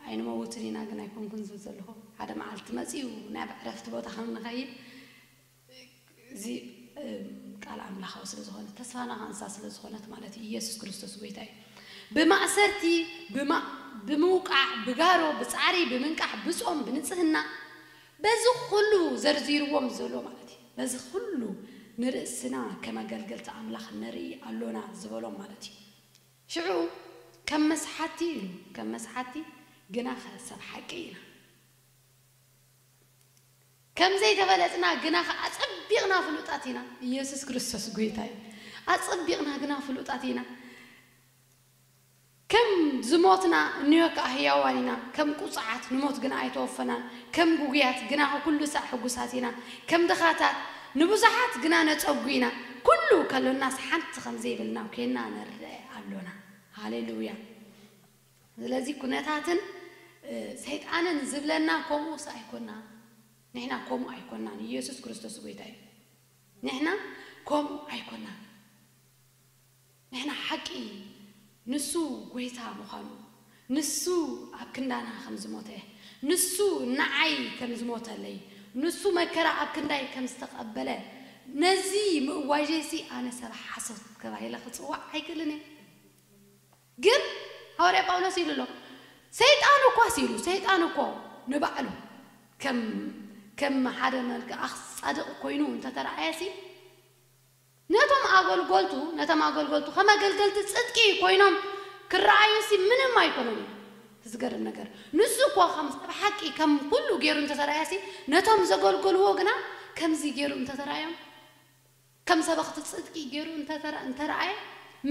ኣይንመውትን ኢና ግን ኣይኮንኩን ዝብል ዘለኹ ሓደ መዓልቲ መጺኡ ናብ ዕረፍቲ ቦታ ከም ንኸይድ እዚ ቃል ኣምላኻዊ ስለ ዝኾነ ተስፋና ኸኣ ንሳ ስለ ዝኾነት ማለት እዩ ኢየሱስ ክርስቶስ ጎይታ እዩ ብማእሰርቲ ብምውቃዕ ብጋሮ ብጻዕሪ ብምንቃሕ ብጾም ብንጽህና በዚ ኹሉ ዘርዚርዎም ዘሎ ማለት እዩ በዚ ኹሉ ንርእስና ከም ኣገልገልቲ ኣምላኽ ነርኢ ኣሎና ዝበሎም ማለት እዩ ሽዑ ከም መስሓቲ ኢሉ ከም መስሓቲ ግናኸ ሰብ ሓቂ ኢና። ከም ዘይተበለጽና ግና ከኣ ኣጸቢቕና ፍሉጣት ኢና። ኢየሱስ ክርስቶስ ጎይታ እዩ። ኣጸቢቕና ግና ፍሉጣት ኢና። ከም ዝሞትና እንዮ ከኣ ህያዋን ኢና። ከም ቁጹዓት ንሞት ግና ኣይተወፈናን። ከም ግጉያት ግናኸ ኩሉ ሳዕ ሕጉሳት ኢና። ከም ድኻታት ንብዙሓት ግና ነጸጉ ኢና። ኩሉ ከሎናስ ሓንቲ ከም ዘይብልና ኮይና ንርኣ ኣሎና። ሃሌ ሉያ! ስለዚ ኩነታትን ሰይጣንን ዝብለና ኮምኡስ ኣይኮናን ንሕና ኮምኡ ኣይኮናን ኢየሱስ ክርስቶስ ጎይታ እዩ ንሕና ኮምኡ ኣይኮናን ንሕና ሓቂ ንሱ ጎይታ ምዃኑ ንሱ ኣብ ክንዳና ከም ዝሞተ ንሱ ንዓይ ከም ዝሞተለይ ንሱ መከራ ኣብ ክንዳይ ከም ዝተቐበለ ነዚ ምእዋጀይሲ ኣነ ሰብ ሓሶት ተባሂለ ክጽዋዕ ኣይክእልን እየ። ግን ሃዋርያ ጳውሎስ ኢሉ ኣሎ ሰይጣን እኳስ ኢሉ ሰይጣን እኮ ንባዕሉ ከም ከም ሓደ መልክኣኽ ጻድቕ ኮይኑ እንተ ተራእየሲ ነቶም ኣገልጎልቱ ነቶም ኣገልጎልቱ ከም ኣገልገልቲ ጽድቂ ኮይኖም ክረኣዩሲ ምንም ኣይኮነን እዩ እቲ ዝገርም ነገር ንሱ እኮ ከም ሰብ ሓቂ ከም ኩሉ ጌሩ እንተ ተራእየሲ ነቶም ዘገልገልዎ ግና ከምዚ ጌሩ እንተ ተራእዮም ከም ሰበኽቲ ጽድቂ ገይሩ እንተ እንተረኣየ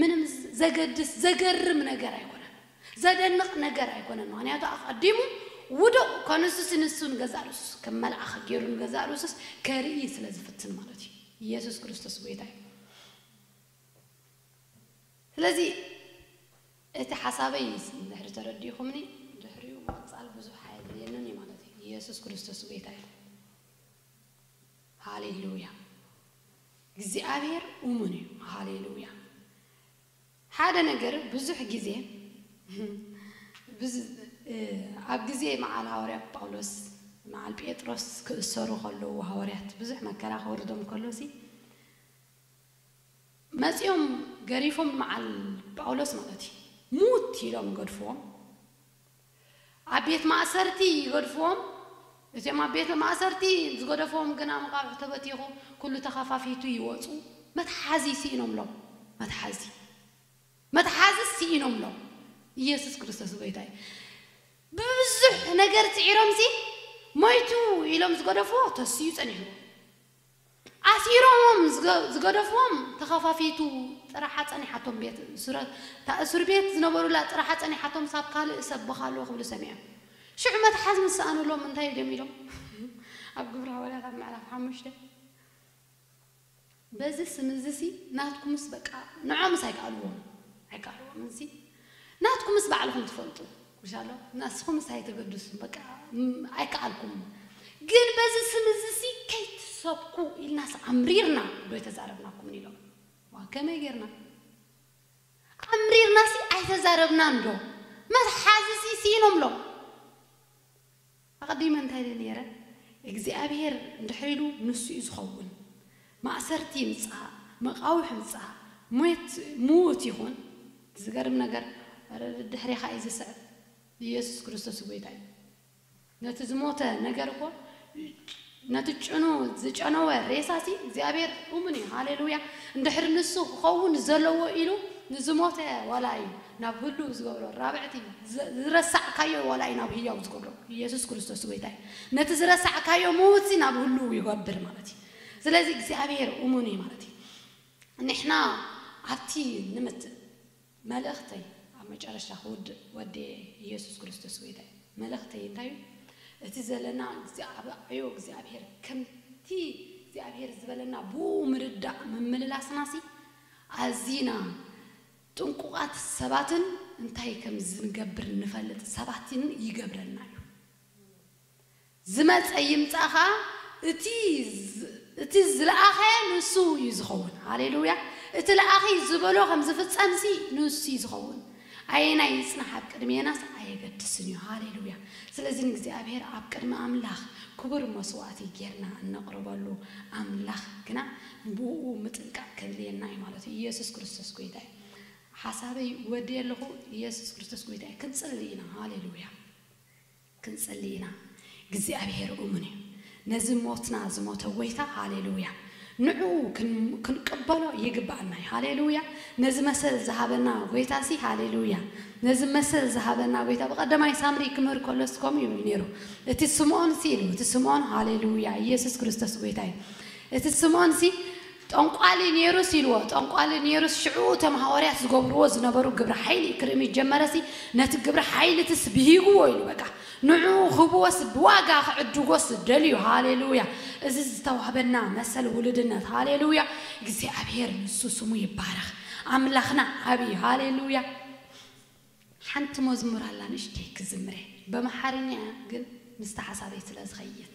ምንም ዘገድስ ዘገርም ነገር ኣይኮነን ዘደንቕ ነገር ኣይኮነን ምኽንያቱ ኣቐዲሙ ውዱቕ ከንሱሲ ንሱ ንገዛእ ርእሱስ ከም መልኣኽ ገይሩ ንገዛእ ርእሱስ ከርኢ ስለ ዝፍትን ማለት እዩ ኢየሱስ ክርስቶስ ጎይታ እዩ ስለዚ እቲ ሓሳበይ ድሕሪ ተረዲእኹምኒ ድሕሪኡ ምቕጻል ብዙሕ ኣየድልየንን እዩ ማለት እዩ ኢየሱስ ክርስቶስ ጎይታ እዩ። ሃሌሉያ እግዚኣብሔር ኡሙን እዩ ሃሌሉያ ሓደ ነገር ብዙሕ ግዜ ኣብ ግዜ መዓል ሃዋርያ ጳውሎስ መዓል ጴጥሮስ ክእሰሩ ከለዉ ሃዋርያት ብዙሕ መከራ ክወርዶም ከሎ ሲ መጺኦም ገሪፎም ንመዓል ጳውሎስ ማለት እዩ ሙት ኢሎም ገድፍዎም ኣብ ቤት ማእሰርቲ ይገድፍዎም፣ እቲኦም ኣብ ቤት ማእሰርቲ ዝገደፍዎም ግና መቓብዕ ተበቲኹ ኩሉ ተኸፋፊቱ ይወጹ፣ መትሓዚ ስኢኖምሎም፣ መትሓዚ፣ መትሓዚ ስኢኖምሎም፣ ኢየሱስ ክርስቶስ ጎይታ እዩ፣ ብብዙሕ ነገር ጽዒሮምሲ ሞይቱ ኢሎም ዝገደፍዎ ተሲኡ ጸኒሕዎ፣ ኣሲሮሞም ዝገደፍዎም ተኻፋፊቱ ጥራሓ ጸኒሓቶም ቤት እሱረት እታ እሱርቤት ዝነበሩላ ጥራሓ ጸኒሓቶም ሳብ ካልእ ሰብ ብኻልኡ ክብሉ ሰሚዐ ሽዑ መትሓዝ ምስ ሰኣኑሎም እንታይ ድዮም ኢሎም ኣብ ግብሪ ሃዋርያት ኣብ ምዕራፍ ሓሙሽተ በዚ ስም እዚሲ ናትኩምስ በቃ ንዖምስ ኣይከኣልዎምን ኣይከኣልዎምንሲ ናትኩምስ ባዕልኹም ትፈልጡ ሻሎም ናስኹምስ ኣይተገድሱ በቃ ኣይከኣልኩም ግን በዚ ስም እዚሲ ከይትሰብኩ ኢልናስ ኣምሪርና ዶ ኣይተዛረብናኩምን ኢሎም ዋእ ከመይ ጌርና ኣምሪርናሲ ኣይተዛረብናን ዶ መትሓዚሲ ሲኢኖምሎም ኣቐዲመ እንታይ ድየ ነይረ? እግዚኣብሄር እንድሕር ኢሉ ንሱ እዩ ዝኸውን። ማእሰርቲ ይምጻእ፣ መቓውሕ ይምጻእ፣ ሞት ምዉት ይኹን፣ ዝገርም ነገር ደድሕሬኻ እዩ ዝስዕብ፣ ኢየሱስ ክርስቶስ ጐይታ እዩ። ነቲ ዝሞተ ነገር እኮ። ነቲ ጭኑ ዝጨነወ ሬሳሲ እግዚኣብሔር እሙን እዩ ሃሌሉያ እንድሕር ንሱ ክኸውን ዘለዎ ኢሉ ንዝሞተ ዋላ እዩ ናብ ህሉው ዝገብሮ ራብዕቲ ዝረሳዕካዮ ዋላ እዩ ናብ ህያው ዝገብሮ ኢየሱስ ክርስቶስ ጎይታ እዩ ነቲ ዝረሳዕካዮ ምዉትሲ ናብ ህሉው ይገብር ማለት እዩ ስለዚ እግዚኣብሔር እሙን እዩ ማለት እዩ ንሕና ኣብቲ ንምት መልእኽተይ ኣብ መጨረሽታ ክውድእ ወድየ ኢየሱስ ክርስቶስ ጎይታይ መልእኽተይ እንታይ እዩ እቲ ዘለና ኣብ ዕዮ እግዚኣብሔር ከምቲ እግዚኣብሔር ዝበለና ብኡ ምርዳእ ምምልላስናሲ ኣዚና ጥንቁቃት ሰባትን እንታይ ከምዝንገብር ንፈልጥ ሰባትን ይገብረና እዩ። ዝመጸ ይምጻእ ከኣ እቲ እቲ ዝለኣኸ ንሱ እዩ ዝኸውን። ሃሌሉያ! እቲ ለኣኺ ዝበሎ ከም ዝፍጸምሲ ንሱ እዩ ዝኸውን። ኣየናይ ይጽናሕ ኣብ ቅድሜናስ ኣየገድስን እዩ። ሃሌሉያ! ስለዚ ንእግዚኣብሄር ኣብ ቅድሚ ኣምላኽ ክቡር መስዋእቲ ጌርና እነቕርበሉ ኣምላኽ ግና ንብእኡ ምጥንቃቕ ከድልየና እዩ ማለት እዩ። ኢየሱስ ክርስቶስ ጎይታ እዩ። ሓሳበይ ወድየ ኣለኹ። ኢየሱስ ክርስቶስ ጎይታ እዩ። ክንጽሊ ኢና። ሃሌሉያ! ክንጽሊ ኢና እግዚኣብሄር እሙን እዩ ነዚ ሞትና ዝሞተ ጎይታ ሃሌሉያ ንዑኡ ክንቅበሎ ይግባኣና እዩ ሃሌሉያ ነዚ መሰል ዝሃበና ጎይታሲ ሃሌሉያ ነዚ መሰል ዝሃበና ጎይታ ብቀደማይ ሳምሪ ክምህር ከሎስ ከምኡ እዩ ኔሩ እቲ ስምኦንሲ ኢሉ እቲ ስምኦን ሃሌሉያ ኢየሱስ ክርስቶስ ጎይታ እዩ እቲ ስምኦንሲ ጠንቋሊ ኔሩስ ኢልዎ ጠንቋሊ ኔሩስ ሽዑኡ እቶም ሃወርያት ዝገብርዎ ዝነበሩ ግብረ ሓይሊ ክርኢ ምስ ጀመረሲ ነቲ ግብረ ሓይልትስ ብሂግዎ ኢሉ በቃ ንዑኡ ክህብዎስ ብዋጋ ክዕድጎስ ደልዩ ሃሌሉያ እዚ ዝተዋህበና መሰል ውሉድነት ሃሌሉያ እግዚኣብሔር ንሱ ስሙ ይባረኽ ኣምላኽና ዓብይ ሃሌሉያ ሓንቲ መዝሙር ኣላ ንእሽተይ ክዝምር እየ በምሓርኛ እያ ግን ምስቲ ሓሳበይ ስለ ዝኸይድ።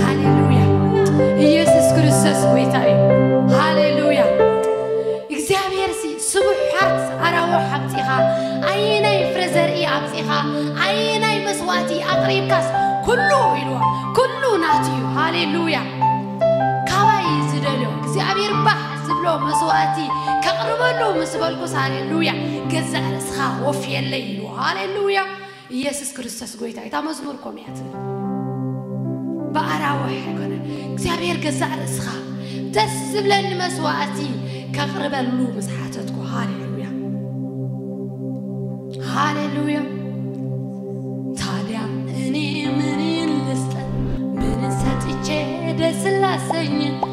ሃሌሉያ ኢየሱስ ክርስቶስ ጎይታ እዩ ሃሌሉያ እግዚኣብሔር ሲ ስቡሕ ሓርት ኣራዎ ሓብፂኻ ኣየናይ ፍረ ዘርኢ ኣብፂኻ ኣየናይ መስዋእቲ ኣቕሪብካስ ኩሉ ኢልዋ ኩሉ ናት እዩ ሃሌሉያ ካባይ ዝደልዮ እግዚኣብሔር ባሕ ዝብሎ መስዋእቲ ከቕርበሉ ምስ በልኩስ ሃሌሉያ ገዛእ ርእስኻ ወፍየለይ ኢልዋ ሃሌሉያ ኢየሱስ ክርስቶስ ጎይታ እዩ እታ መዝሙር ኮም እያ ትብል ብኣራውሕ ኣይኮነ እግዚኣብሔር ገዛእ ርእስኻ ደስ ዝብለኒ መስዋእቲ ከቕርበሉ ምስ ሓተትኩ ሃሌሉያ ሃሌሉያ ታዲያ እኔ ምንን ልስጠ ምንን ሰጥቼ ደስ ላሰኝ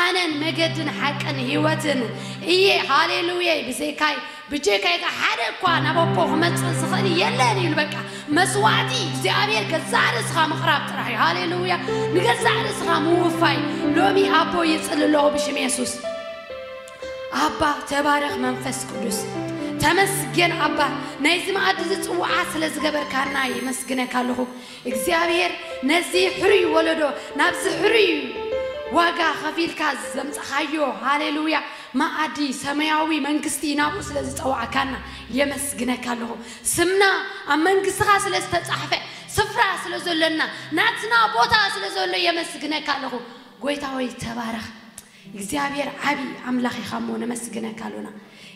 ኣነን መገድን ሓቅን ህይወትን እየ ሃሌሉየይ ብዘይካይ ብጀካይ ከኣ ሓደ እኳ ናብ ኣቦ ክመጽእ ዝኽእል የለን ኢሉ በቃ መስዋእቲ እግዚኣብሔር ገዛእ ርእስኻ ምቕራብ ጥራሕ እዩ ሃሌሉያ ንገዛእ ርእስኻ ምውፋይ ሎሚ ኣቦ ይጽሊ ኣለኹ ብሽም የሱስ ኣባ ተባረኽ መንፈስ ቅዱስ ተመስገን ኣባ ናይዚ መኣዲ ዝጽዋዓ ስለ ዝገበርካና የመስግነካ ኣለኹ እግዚኣብሔር ነዚ ሕሩይ ወለዶ ናብዚ ሕሩይ ዋጋ ከፊልካ ዘምጻኻዮ ሃሌሉያ መኣዲ ሰማያዊ መንግስቲ ናብኡ ስለ ዝጸዋዕካና የመስግነካ ኣለኹ ስምና ኣብ መንግስትኻ ስለ ዝተጻሕፈ ስፍራ ስለ ዘሎና ናትና ቦታ ስለ ዘሎ የመስግነካ ኣለኹ ጎይታ ሆይ ተባረኽ እግዚኣብሔር ዓቢ ኣምላኽ ኢኻ እሞ ነመስግነካ ኣሎና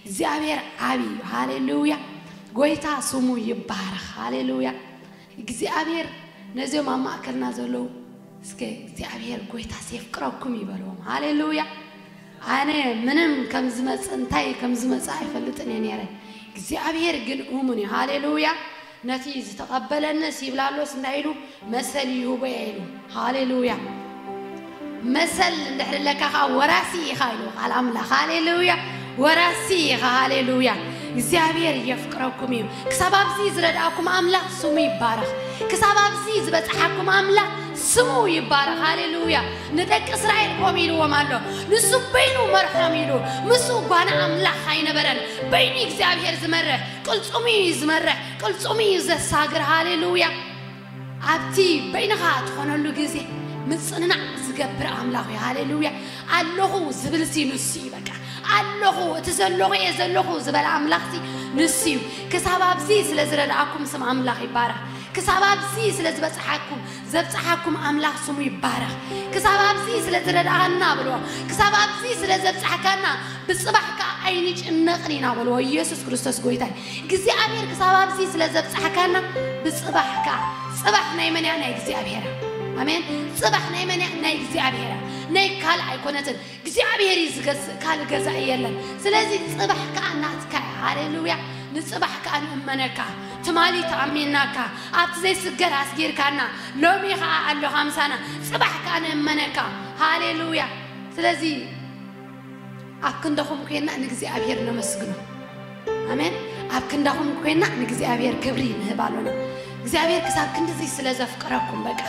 እግዚኣብሔር ዓቢ እዩ ሃሌሉያ ጎይታ ስሙ ይባረኽ ሃሌሉያ እግዚኣብሔር ነዚኦም ኣብ ማእከልና ዘለዉ እስከ እግዚኣብሔር ጎይታስ የፍቅረኩም እዩ በልዎም። ሃሌሉያ! ኣነ ምንም ከም ዝመጽእ እንታይ ከም ዝመጽእ ኣይፈልጥን እየ ነይረ፣ እግዚኣብሔር ግን እሙን እዩ። ሃሌሉያ! ነቲ ዝተቐበለንስ ይብላሎስ እንታይ ኢሉ መሰል ይህቦ እየ ኢሉ። ሃሌሉያ መሰል እንድሕር ኣለካ ከዓ ወራሲ ኢኻ ኢሉ ቃል ኣምላኽ ሃሌሉያ ወራሲ ኢኻ ሃሌሉያ እግዚኣብሔር የፍቅረኩም እዩ ክሳብ ኣብዚ ዝረድኣኩም ኣምላኽ ስሙ ይባረኽ ክሳብ ኣብዚ ዝበፅሓኩም ኣምላኽ ስሙ ይባረኽ ሃሌሉያ ንደቂ እስራኤል ኮም ኢልዎም ኣሎ ንሱ በይኑ መርሖም ኢሉ ምስ ጓና ኣምላኽ ኣይነበረን በይኑ እግዚኣብሔር ዝመርሕ ቅልፁሙ እዩ ዝመርሕ ቅልፁሙ እዩ ዘሳግር ሃሌሉያ ኣብቲ በይንኻ ትኾነሉ ግዜ ምጽንናዕ ዝገብር ኣምላኽ እዩ። ሃሌሉያ! ኣለኹ ዝብልሲ ንሱ እዩ። በቃ ኣለኹ እቲ ዘለኹ እየ ዘለኹ ዝበለ ኣምላኽሲ ንሱ እዩ። ክሳብ ኣብዚ ስለ ዝረድኣኩም ስም ኣምላኽ ይባረኽ። ክሳብ ኣብዚ ስለ ዝበጽሓኩም ዘብጽሓኩም ኣምላኽ ስሙ ይባረኽ። ክሳብ ኣብዚ ስለ ዝረድኣና በልዎ። ክሳብ ኣብዚ ስለ ዘብጽሕካና ብጽባሕ ከኣ ኣይንጭነቕን ኢና በልዎ። ኢየሱስ ክርስቶስ ጎይታ እዩ። እግዚኣብሔር ክሳብ ኣብዚ ስለ ዘብጽሕካና ብጽባሕ ከኣ ጽባሕ ናይ መን እያ ናይ እግዚኣብሔር እያ ኣሜን ጽባሕ ናይ መን እያ ናይ እግዚኣብሔር እያ ናይ ካልእ ኣይኮነትን እግዚኣብሔር እዩ ዝገዝእ ካልእ ገዛኢ የለን ስለዚ ጽባሕ ከኣ ናትካ እያ ሃሌሉያ ንጽባሕ ከኣ ንእመነካ ትማሊ ተኣሚንናካ ኣብቲ ዘይስገር ኣስጊርካና ሎሚ ከኣ ኣሎኻ ምሳና ጽባሕ ከኣ ንእመነካ ሃሌሉያ ስለዚ ኣብ ክንዳኹም ኮይና ንእግዚኣብሔር ነመስግኖ። ኣሜን። ኣብ ክንዳኹም ኮይና ንእግዚኣብሔር ክብሪ ንህብ ኣሎና። እግዚኣብሔር ክሳብ ክንድዚ ስለ ዘፍቅረኩም በቃ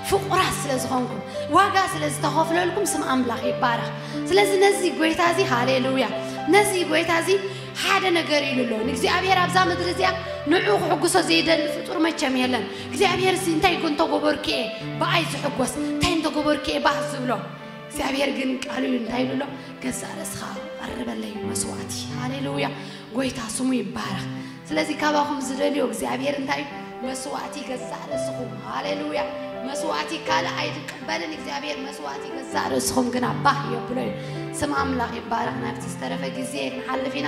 ፍቁራት ስለ ዝኾንኩም ዋጋ ስለ ዝተኸፍለልኩም ስም ኣምላኽ ይባረኽ። ስለዚ ነዚ ጎይታ እዚ ሃሌሉያ፣ ነዚ ጎይታ እዚ ሓደ ነገር ኢሉ ኣሎ ንእግዚኣብሔር ኣብዛ ምድሪ እዚኣ ንዑ ክሕጉሶ ዘይደሊ ፍጡር መቸም የለን። እግዚኣብሔር እዚ እንታይ እንተጎበርኩ እየ ብኣይ ዝሕጎስ እንታይ እንተጎበርኩ እየ ባህ ዝብሎ እግዚኣብሔር ግን ቃሉ እዩ እንታይ ኢሉ ኣሎ ገዛእ ርእስኻ ቀርበለይ መስዋዕቲ ሃሌሉያ ጎይታ ስሙ ይባረኽ ስለዚ ካባኹም ዝደልዮ እግዚኣብሔር እንታይ እዩ መስዋዕቲ ገዛእ ርእስኹም ሃሌሉያ መስዋዕቲ ካልእ ኣይትቀበልን እግዚኣብሔር መስዋዕቲ ገዛእ ርእስኹም ግና ባህ የብሎ እዩ ስም ኣምላኽ ይባረኽ ናብቲ ዝተረፈ ግዜ ንሓልፍ ኢና